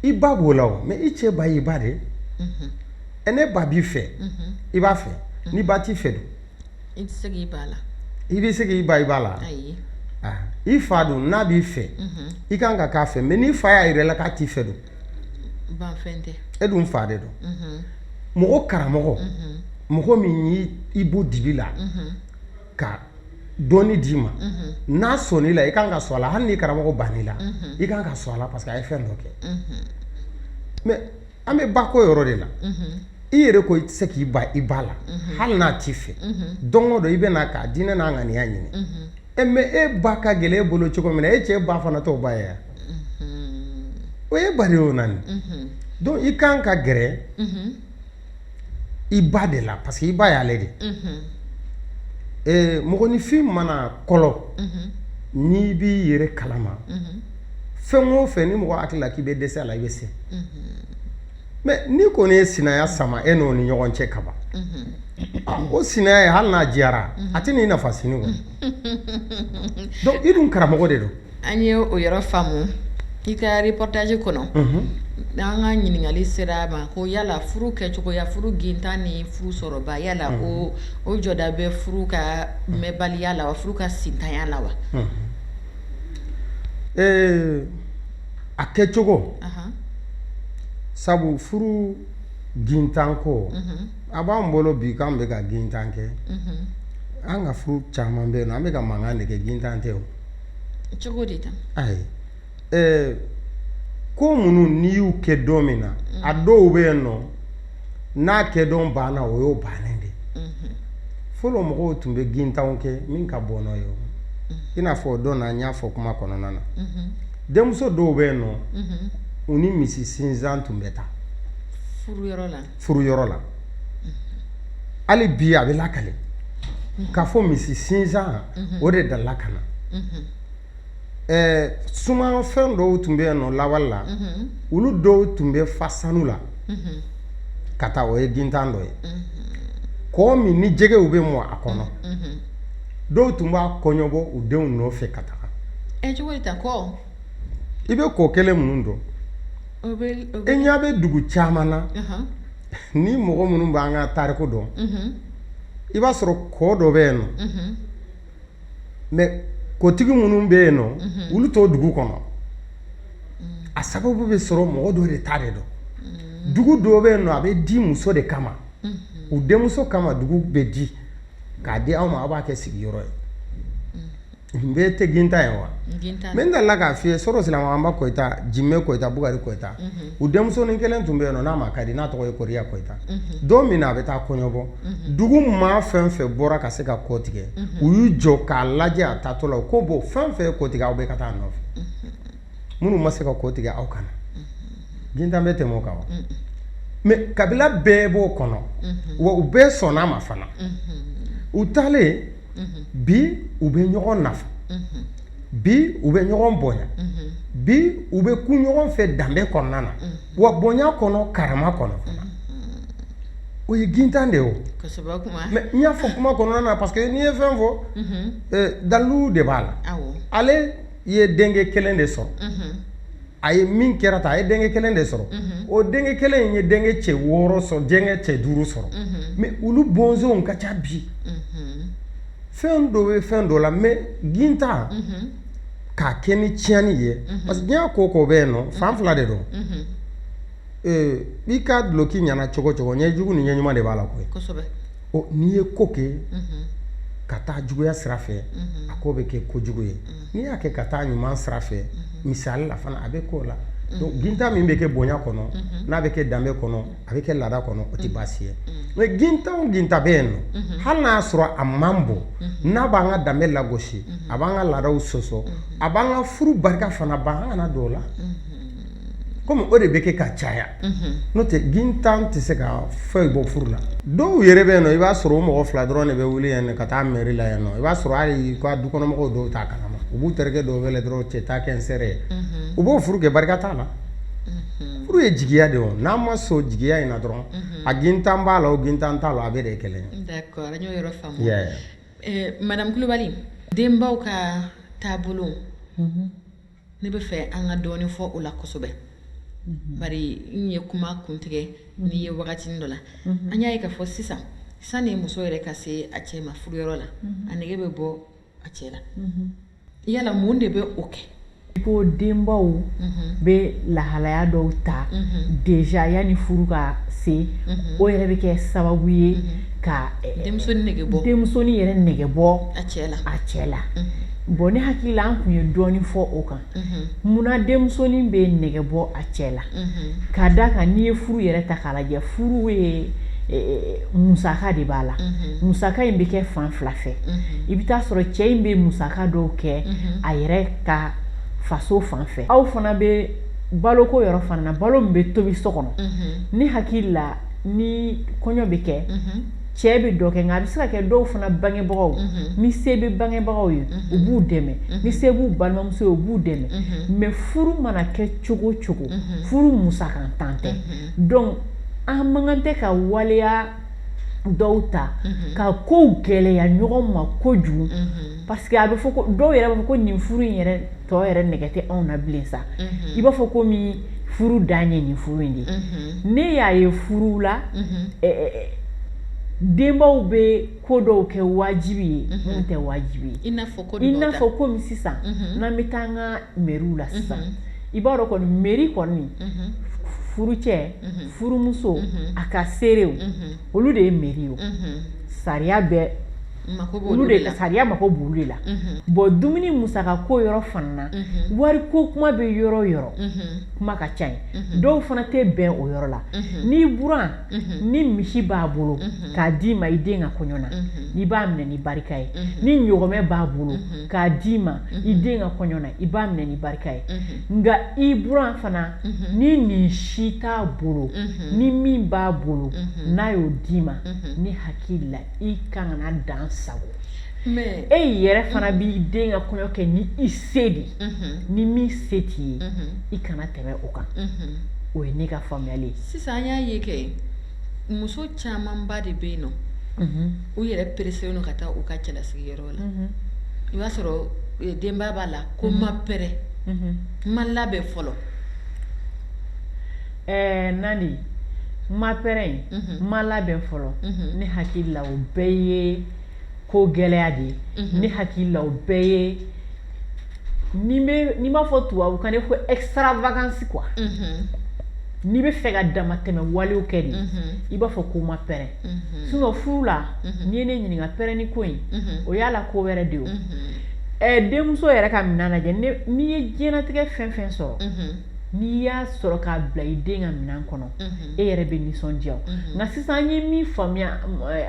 i ba b'o la o mɛ i cɛ ba y'i ba de ye n'i ba b'i fɛ i b'a fɛ n'i ba t'i fɛ dun i bɛ se k'i ban i ba la i fa dun n'a b'i fɛ i kan ka k'a fɛ mɛ n'i fa y'a yira i la k'a t'i fɛ dun e dun fa de don mɔgɔ karamɔgɔ mɔgɔ min y'i bɔ dibi la ka dɔnni d'i ma n'a sɔnn'i la i ka kan ka sɔn a la hali n'i karamɔgɔ bann'i la i ka kan ka sɔn a la parce que a ye fɛn dɔ kɛ mɛ an bɛ ba ko yɔrɔ de la i yɛrɛ ko i tɛ se k'i ban i ba la hali n'a t'i fɛ don dɔ i bɛ n'a ka diɲɛ n'a ŋaniya ɲini e mɛ e ba ka gɛlɛn e bolo cogo min na e cɛ ba fana tɔw ba ye o ye bari o na donc i kan ka gɛrɛ i ba de la parce que i ba y'ale de mɔgɔninfin mana kɔlɔ n'i b'i yɛrɛ kalama fɛn o fɛn ni mɔgɔ hakili la k'i bɛ dɛsɛ a la i bɛ se mɛ ni ko ne ye sinaya sama e n'o ni ɲɔgɔn cɛ kaban o sinaya hali n'a diyara a tɛ n'i nafa sini kɔnɔ dɔn i dun karamɔgɔ de don an ye o yɔrɔ faamu i ka reportage kɔnɔ n' an ka ɲininkali sera a ma ko yala furu kɛcogoya furu gintan ni furu sɔrɔba yala ko o jɔda bɛ furu ka mɛnbaliya la wa furu ka sintanya la wa ee a kɛcogo sabu furu gintan ko a b'an bolo bi k'an bɛ ka gintan kɛ an ka furu caman bɛ yen an bɛka mankan de kɛ gintan tɛ o cogo de ayi ko minnu n'i y'u kɛ don min na a dɔw bɛ yen nɔ n'a kɛ don banna o y'o bannen de fɔlɔ mɔgɔw tun bɛ gintanw kɛ min ka bon n'o ye i n'a fɔ dɔn n y'a fɔ kuma kɔnɔna na denmuso dɔw bɛ yen nɔ u ni misi sinsan tun bɛ taa furu yɔrɔ la hali bi a bɛ lakale k'a fɔ misi sinsan o de dala ka na Ɛɛ suman fɛn dɔw tun bɛ yen nɔ lawale la olu dɔw tun bɛ fa sanu la ka taa o ye gintan dɔ ye kɔ min ni jɛgɛw bɛ mɔn a kɔnɔ dɔw tun b'a kɔɲɔbɔ u denw nɔfɛ ka taga i bɛ kɔ kelen minnu dɔn e ɲɛ bɛ dugu caman na ni mɔgɔ minnu bɛ an ka tariku dɔn i b'a sɔrɔ kɔ dɔ bɛ yen nɔ mɛ kɔtigi minnu bɛ yen nɔ mhm. olu tɛ dugu kɔnɔ a sababu bɛ sɔrɔ mɔgɔ dɔ de ta de don mhm. dugu dɔw bɛ yen nɔ a bɛ di muso de kama mhm. u denmuso kama dugu bɛ di k'a di aw ma aw b'a kɛ sigiyɔrɔ ye o bɛɛ tɛ gintan ye wa n bɛ dala k'a f'i ye sɔrɔ silamakanba kɔyita jimɛ kɔyita bukari kɔyita u denmusonin kelen tun bɛ yen nɔ n'a ma ka di n'a tɔgɔ ye kɔrɔya kɔyita don min na a bɛ taa kɔɲɔbɔ dugu maa fɛn fɛn bɔra ka se ka kɔ tigɛ u y'u jɔ k'a lajɛ a taatɔ la ko bɔ fɛn fɛn kɔ tigɛ aw bɛɛ ka taa nɔfɛ minnu ma se ka kɔ tigɛ aw ka na gintan bɛ tɛmɛ o kan wa mɛ kabila bɛɛ b'o kɔnɔ wa u bɛɛ sɔnna ma fana u taalen bi u bɛ ɲɔgɔn nafa bi u bɛ ɲɔgɔn bonya bi u bɛ kun ɲɔgɔn fɛ danbe kɔnɔna na wa bonya kɔnɔ karama kɔnɔ fana o ye gintan de ye o mɛ n y'a fɔ kuma kɔnɔna na parce que n'i ye fɛn fɔ dalu de b'a la ale ye denkɛ kelen de sɔrɔ a ye min kɛra ta a ye denkɛ kelen de sɔrɔ o denkɛ kelen in ye denkɛ cɛ wɔɔrɔ sɔrɔ denkɛ cɛ duuru sɔrɔ mɛ olu bɔnsɔnw ka ca bi fɛn dɔ bɛ fɛn dɔ la mɛ gintan k'a kɛ ni tiɲɛni ye parce que diɲɛ ko ko bɛ yen nɔ fan fila de don i ka duloki ɲɛna cogo cogo ɲɛ jugu ni ɲɛ ɲuman de b'a la koyi n'i ye ko kɛ ka taa juguya sira fɛ a ko bɛ kɛ ko jugu ye n'i y'a kɛ ka taa ɲuman sira fɛ misali la fana a bɛ k'o la gintan min bɛ kɛ bonya kɔnɔ n'a bɛ kɛ danbe kɔnɔ a bɛ kɛ laada kɔnɔ o tɛ mm. baasi ye mm. mɛ gintan o gintan bɛ yen nɔ mm-hmm. hali n'a y'a sɔrɔ a man bon mm-hmm. n'a b'an ka danbe lagosi mm-hmm. a b'an ka laadaw sɔsɔ a b'an ka furu barika fana ban an kana don o la komi o de bɛ kɛ ka caya n'o tɛ gintan tɛ se ka foyi bɔ furu la dɔw yɛrɛ bɛ yen nɔ i b'a sɔrɔ o mɔgɔ fila dɔrɔn de bɛ wuli yan nɔ ka taa mɛri la yan nɔ i b'a sɔrɔ hali u ka dukɔnɔmɔgɔw dɔw t'a kalama u b'u terikɛ dɔw wele dɔrɔn cɛ taa kɛ n seere ye u b'o furu kɛ barika t'a la Furu ye jigiya de n'a ma so jigiya in dɔrɔn a gintan b'a la gintan t'a la a bɛɛ de kelen madamu kulubali denbaw ka taabolo ne bɛ fɛ an ka dɔɔnin fɔ o la kosɛbɛ n ye kuma kuntigɛ n'i ye wagati dɔ la an y'a ye k'a fɔ sisan sanni muso yɛrɛ ka se a cɛ ma furu yɔrɔ la a nɛgɛ bɛ bɔ a cɛ la yala mun de bɛ o kɛ i ko denbaw bɛ lahalaya dɔw ta déjà yanni furu ka se o yɛrɛ bɛ kɛ sababu ye ka denmusonin yɛrɛ nɛgɛ bɔ a cɛ la a cɛ la bɔn ne hakili la an tun ye dɔɔnin fɔ o kan mun na denmusonin bɛ nɛgɛ bɔ a cɛ la ka da kan n'i ye furu yɛrɛ ta k'a lajɛ furu ye musaka de b'a la musaka in bɛ kɛ fan fila fɛ i bɛ t'a sɔrɔ cɛ in bɛ musaka dɔw kɛ a yɛrɛ ka faso fan fɛ aw fana bɛ baloko yɔrɔ fana balo min bɛ tobi so kɔnɔ ne hakili la ni kɔɲɔ bɛ kɛ cɛ bɛ dɔ kɛ nka a bɛ se ka kɛ dɔw fana bangebagaw mhm. ni se bɛ bangebagaw ye mhm. u b'u dɛmɛ mhm. ni se b'u balimamuso ye u b'u dɛmɛ mɛ furu mana kɛ cogo cogo furu musakantan tɛ dɔnku an man kan tɛ ka waleya dɔw ta ka kow gɛlɛya ɲɔgɔn ma kojugu parce que a bɛ fɔ ko dɔw yɛrɛ b'a fɔ ko nin furu in yɛrɛ tɔ yɛrɛ nɛgɛ tɛ anw na bilen sa mhm. i b'a fɔ komi furu dan ye nin furu in de ye mhm. ne y'a ye furu la mhm. eh, eh, eh, denbaw bɛ ko dɔw kɛ wajibi ye minnu tɛ wajibi ye i n'a fɔ ko i n'a fɔ komi sisan n'an bɛ taa an ka mɛriw la sisan i b'a dɔn kɔni mɛri kɔni furu cɛ furumuso a ka seerew olu de ye mɛri ye sariya bɛ sariya mako b'o de la bɔn dumuni musaka ko yɔrɔ fana wari ko kuma bɛ yɔrɔ yɔrɔ kuma ka ca yen dɔw fana tɛ bɛn o yɔrɔ la n'i buran ni misi b'a bolo k'a d'i ma i den ka kɔɲɔ na i b'a minɛ ni barika ye ni ɲɔgɔmɛ b'a bolo k'a d'i ma i den ka kɔɲɔ na i b'a minɛ ni barika ye nka i buran fana ni nin si t'a bolo ni min b'a bolo n'a y'o d'i ma ne hakili la i ka kan ka dan a sago ma e yɛrɛ fana mhm. b'i den ka kɔɲɔ kɛ ni i se de mhm. ni min se t'i ye mhm. i kana tɛmɛ o kan o ye ne ka faamuyali ye sisan an y'a ye kɛ muso camanba de bɛ yen n'u yɛrɛ pereselen don ka taa u ka cɛlasigi yɔrɔ la i b'a sɔrɔ eh, denba b'a la ko n ma pɛrɛ n ma labɛn fɔlɔ ɛɛ nandi n ma pɛrɛn mhm. n ma labɛn fɔlɔ mhm. ne hakili la o bɛɛ ye ko gɛlɛya de ye mhm. ne hakili la o bɛɛ ye n'i bɛ n'i b'a fɔ tubabukan na ko extravagance quoi n'i bɛ fɛ ka damatɛmɛ walew kɛ de i b'a fɔ ko n ma pɛrɛn sinon furu la n'i ye ne ɲininka pɛrɛnni ko in o y'a la ko wɛrɛ de ye o ɛɛ denmuso yɛrɛ ka minɛn lajɛ n'i ye diɲɛlatigɛ fɛn fɛn sɔrɔ n'i y'a sɔrɔ k'a bila i den ka minɛn kɔnɔ e yɛrɛ bɛ nisɔndiya nka sisan an ye min faamuya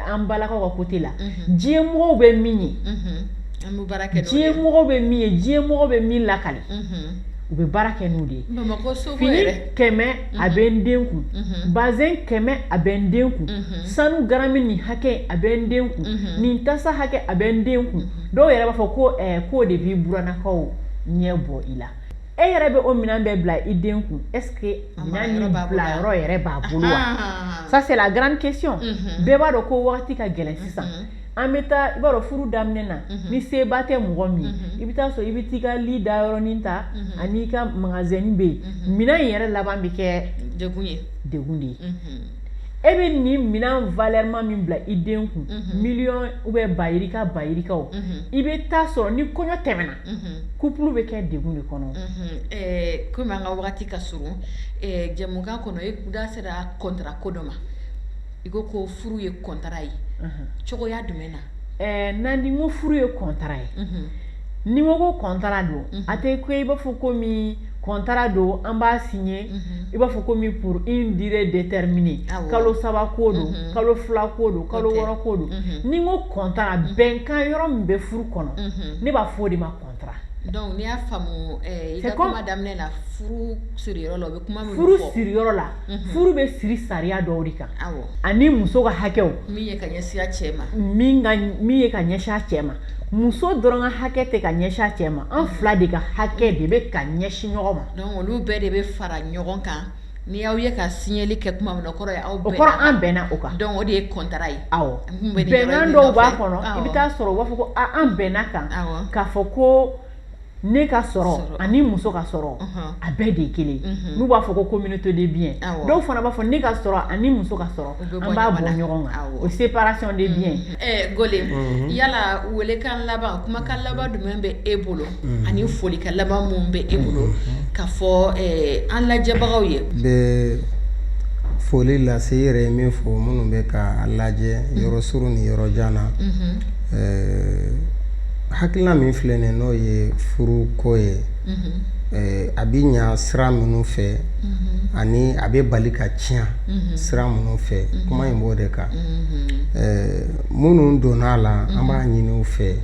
an balakaw ka kote la diɲɛ mɔgɔw bɛ min ye diɲɛ mɔgɔw bɛ min ye diɲɛ mɔgɔw bɛ min lakali u bɛ baara kɛ n'o de ye fini kɛmɛ a bɛ n den kun bazɛn kɛmɛ a bɛ n den kun sanu garami nin hakɛ a bɛ n den kun nin tasa hakɛ a bɛ n den kun dɔw yɛrɛ b'a fɔ ko k'o de b'i burannakaw ɲɛ bɔ i la e yɛrɛ bɛ o minɛn bɛɛ bila i den kun est ce que minɛn nin bila yɔrɔ yɛrɛ b'a bolo wa ça c'est la grande question mhm. bɛɛ b'a dɔn ko wagati ka gɛlɛn mhm. sisan an bɛ taa i b'a dɔn furu daminɛ na mhm. ni seba tɛ mɔgɔ min ye i bɛ t'a sɔrɔ i bɛ t'i ka li da yɔrɔnin ta ani i ka magazɛni bɛ yen minɛn in yɛrɛ laban bɛ kɛ degun ye degun de ye e bɛ nin minɛn valɛrima min bila i den kun miliyɔn ubiyɛn bayirika bayirikaw i bɛ t'a sɔrɔ ni kɔɲɔ tɛmɛna kupulu bɛ kɛ degun de kɔnɔ kɔmi an ka waati ka surun jɛmukan kɔnɔ e da sera kɔntara ko dɔ ma i ko ko furu ye kɔntara ye cogoya jumɛn na ɛɛ nandi n ko furu ye kɔntara ye ni n ko kɔntara don a tɛ ko i b'a fɔ kɔmi kɔntara don an b'a siɲɛ mhm. i b'a fɔ ko min pour une durée déterminée kalo saba ko don mhm. kalo fila ko don kalo wɔɔrɔ ko don mhm. ni n ko kɔntara bɛnkan yɔrɔ min bɛ furu kɔnɔ ne b'a fɔ o de ma kɔntara donc n'i y'a faamu eh, i ka kuma daminɛ la furu siriyɔrɔ la o bɛ kuma min furu siriyɔrɔ la furu bɛ siri sariya dɔw de kan ani muso ka hakɛw min ye ka ɲɛsin a cɛ ma min ye ka ɲɛsin a cɛ ma muso dɔrɔn ka hakɛ tɛ ka ɲɛsin cɛ ma an fila de ka hakɛ de bɛ ka ɲɛsin ɲɔgɔn ma donc olu bɛɛ de bɛ fara ɲɔgɔn kan ni y'aw ye ka signature kɛ tuma min na o kɔrɔ ye aw bɛnna o kɔrɔ an bɛnna o kan donc o de ye contrat ye awɔ bɛnkan dɔw b'a kɔnɔ i bɛ taa sɔrɔ u b'a fɔ ko an bɛnn'a kan awɔ k'a fɔ ko ne ka sɔrɔ ani muso ka sɔrɔ a bɛɛ de ye kelen n'u b'a fɔ ko communauté de biens dɔw fana b'a fɔ ne ka sɔrɔ ani muso ka sɔrɔ an b'a bɔ ɲɔgɔn kan o séparation de biens gole yala welekan laban kumakan laban jumɛn bɛ e bolo ani folikan laban minnu bɛ e bolo ka fɔ an lajɛbagaw ye n bɛ foli lase yɛrɛ ye min fɔ minnu bɛ k'an lajɛ yɔrɔ surun ni yɔrɔ jan na hakilina min filɛ nin n'o ye furu ko ye eh, a bɛ ɲa sira minnu fɛ ani a bɛ bali ka tiɲɛ sira minnu fɛ kuma in b'o de kan eh, minnu donna a la an b'a ɲini u fɛ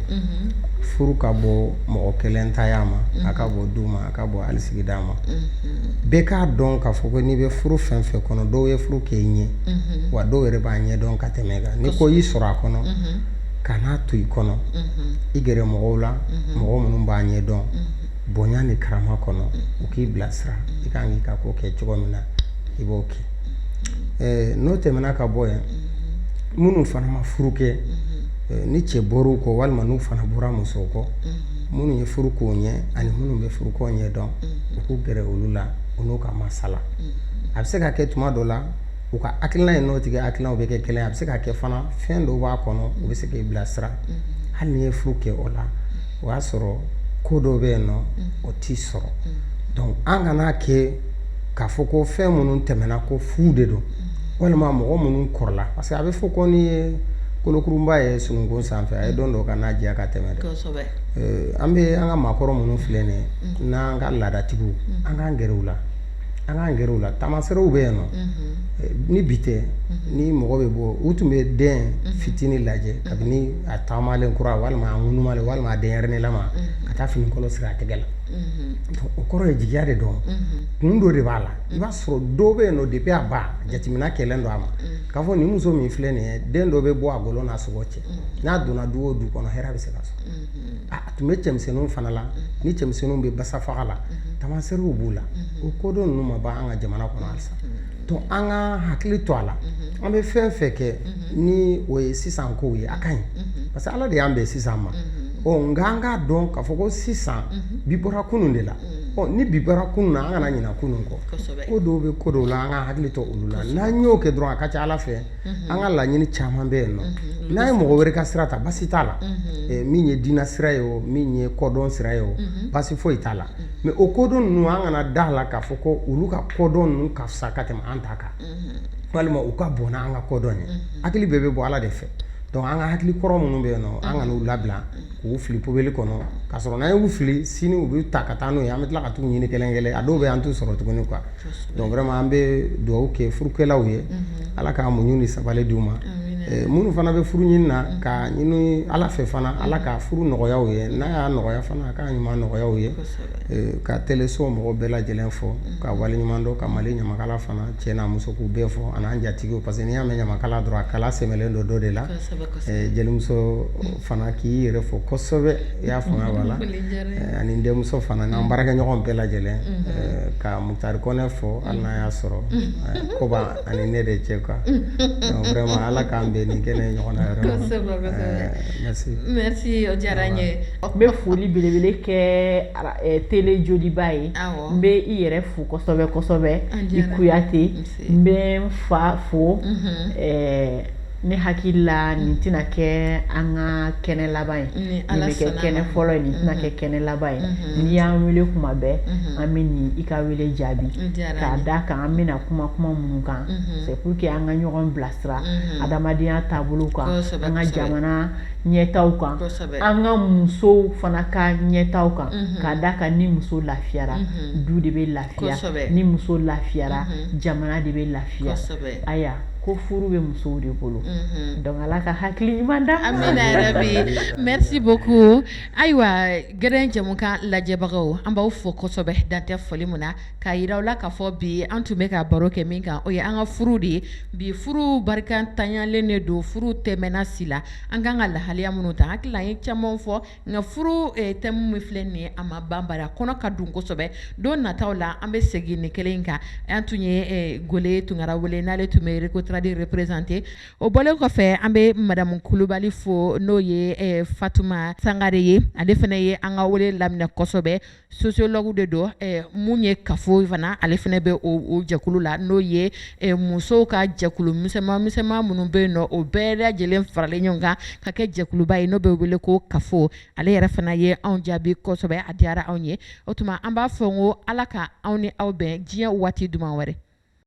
furu ka bon mɔgɔ kelen taya ma a ka bon du ma a ka bon hali sigida ma bɛɛ k'a dɔn k'a fɔ ko n'i bɛ furu fɛn fɛn kɔnɔ dɔw ye furu kɛ i ɲɛ wa dɔw yɛrɛ b'a ɲɛ dɔn ka tɛmɛ i kan ni ko y'i sɔrɔ a kɔnɔ kan'a to i kɔnɔ i gɛrɛ mɔgɔw la mɔgɔ minnu b'a ɲɛ dɔn bonya ni karama kɔnɔ u k'i bilasira i ka kan k'i ka ko kɛ cogo min na i b'o kɛ n'o tɛmɛna ka bɔ yan minnu fana ma furu kɛ ni cɛ bɔr'u kɔ walima n'u fana bɔra musow kɔ minnu ye furu k'u ɲɛ ani minnu bɛ furu ko ɲɛ dɔn u k'u gɛrɛ olu la u n'u ka masala a bɛ se ka kɛ tuma dɔ la u ka hakilina ye n'o tigi hakilinaw bɛ kɛ kelen a bɛ se ka kɛ fana fɛn dɔw b'a kɔnɔ u bɛ se k'i bilasira mm-hmm. hali n'i ye furu kɛ o la o y'a sɔrɔ ko dɔw bɛ yen nɔ mm-hmm. o t'i sɔrɔ mm-hmm. donc an kana kɛ k'a fɔ ko fɛn minnu tɛmɛna ko fu de don walima mɔgɔ minnu kɔrɔla parce que a bɛ fɔ ko n'i ye kolokurunba ye sununkun sanfɛ a ye don dɔ ka na diya ka tɛmɛ dɛ eh, an bɛ an ka maakɔrɔ minnu filɛ nin ye n'an ka laadatigiw an k'an gɛrɛ u la An k'an gɛrɛ u la taamaseerew bɛ yen nɔ ni bi tɛ ni mɔgɔ bɛ bɔ u tun bɛ den fitinin lajɛ kabini a taamalen kura walima ŋ walima den ne lamɔ ka taa finikolon siri a tɛgɛ la o kɔrɔ ye jigiya de don kun dɔ de b'a la i b'a sɔrɔ dɔ bɛ yen nɔ de bɛ a ba jateminɛna kɛ don a ma k'a fɔ nin muso min filɛ nin ye den dɔ bɛ bɔ a kolo n'a sogo cɛ n'a donna du o du kɔnɔ hɛrɛ bɛ se ka so a tun bɛ cɛmisɛnninw fana la ni cɛmisɛnninw bɛ basa faga la tamasɛriw b'u la o kodɔn ninnu ma ban an ka jamana kɔnɔ halisa to an ka hakili to a la an bɛ fɛn fɛn kɛ ni o ye sisan kow ye a ka ɲi parce que ala de y'an bɛn sisan ma ɔ nka an k'a dɔn k'a fɔ ko sisan bi bɔra kunun de la ɔ ni bi bɔra kunun na an kana ɲina kunun kɔ ko dɔw bɛ ko dɔw la an ka hakili to olu la n'an y'o kɛ dɔrɔn a ka ca ala fɛ an ka laɲini caman bɛ yen nɔ n'an ye mɔgɔ wɛrɛ ka sira ta basi t'a la min ye diinɛ sira ye o min ye kodɔn sira ye o basi foyi t'a la mais o kodɔn ninnu an kana da a la k'a fɔ ko olu ka kodɔn ninnu ka fisa ka tɛmɛ an ta kan walima u ka bon n'an ka kodɔn ye hakili bɛɛ bɛ bɔ ala de fɛ donc an ka hakili kɔrɔ minnu bɛ yen nɔ an kan'u labila k'u fili poubelle kɔnɔ ka sɔrɔ n'an y'u fili sini u bɛ ta ka taa n'o ye an bɛ tila ka taa ɲini kelen kɛ a dɔw bɛ an t'u sɔrɔ tuguni quoi donc vraiment an bɛ dugawu kɛ furukɛlaw ye ala ka muɲu ni sabali d'u ma minnu fana bɛ furu ɲini na k'a ɲini ala fɛ fana ala ka furu nɔgɔya ye n'a y'a nɔgɔya fana ka ɲuman nɔgɔya ye ka teleso mɔgɔ bɛɛ lajɛlen fo k'u wale ɲuman dɔn ka mali ɲamakala fana cɛ n'a muso k'u bɛɛ fo ani an jatigi parce que n'i y'a mɛn ɲamakala dɔrɔn a kala sɛmɛlen don dɔ de la jelimuso fana k'i yɛrɛ fo kosɛbɛ i y'a fanga b'a la eh, ani n denmuso fana n'an mm. baarakɛɲɔgɔn bɛɛ lajɛlen mm-hmm. eh, ka mutari kɔnɛ fo mm. hali n'a y'a sɔrɔ mm-hmm. eh, koba ani ne de cɛ quoi mm-hmm. vraiment ala k'an bɛn nin kɛnɛ ɲɔgɔn na yɛrɛ merci merci o diyara n ye n bɛ foli belebele kɛ tele joliba ye n bɛ i yɛrɛ fo kosɛbɛ kosɛbɛ i kuyate n bɛ n fa fo ne hakili la nin tɛna kɛ an ka kɛnɛ laban ye nin bɛ kɛ kɛnɛ fɔlɔ ye nin tɛna kɛ mhm. kɛnɛ laban ye mhm. n'i y'an wele kuma bɛɛ mhm. an bɛna i ka wele jaabi k'a da kan an bɛna kuma kuma minnu kan c'est pour que an ka ɲɔgɔn bilasira adamadenya taabolo kan an ka jamana ɲɛtaa kan an ka musow fana ka ɲɛtaa kan k'a da kan ni muso lafiyara du de bɛ lafiya ni muso lafiyara jamana de bɛ lafiya aya ko furu bɛ musow de bolo donc ala ka hakili ɲuman d'an ma amiina rabi merci beaucoup ayiwa ŋara jamukan lajɛbagaw an b'aw fo kosɛbɛ dan tɛ foli min na k'a jira aw la k'a fɔ bi an tun bɛ ka baro kɛ min kan o ye an ka furu de ye bi furu barikantanyalen de don furu tɛ mɛɛn na si la an ka kan ka lahalaya minnu ta hakili la an ye caman fɔ Nka furu thème min filɛ nin ye a ma ban bari a kɔnɔ ka dun kosɛbɛ don nataw la an bɛ segin ni kelen kan an tun ye gole tunkara wele n'ale tun bɛ recotrade représenter o bɔlen kɔfɛ an bɛ madamu kulubali fo n'o ye fatuma sangare ye ale fana ye an ka wele laminɛ kosɛbɛ Sociologue de don ɛɛ mun ye CAFO fana ale fana bɛ o jɛkulu la n'o ye musow ka jɛkulu misɛnman misɛnman minnu bɛ yen nɔ o bɛɛ lajɛlen faralen ɲɔgɔn kan ka kɛ jɛkuluba ye n'o bɛ wele ko CAFO ale yɛrɛ fana ye anw jaabi kosɛbɛ a diyara anw ye o tuma an b'a fɔ ko Ala ka anw ni aw bɛn diɲɛ waati duman wɛrɛ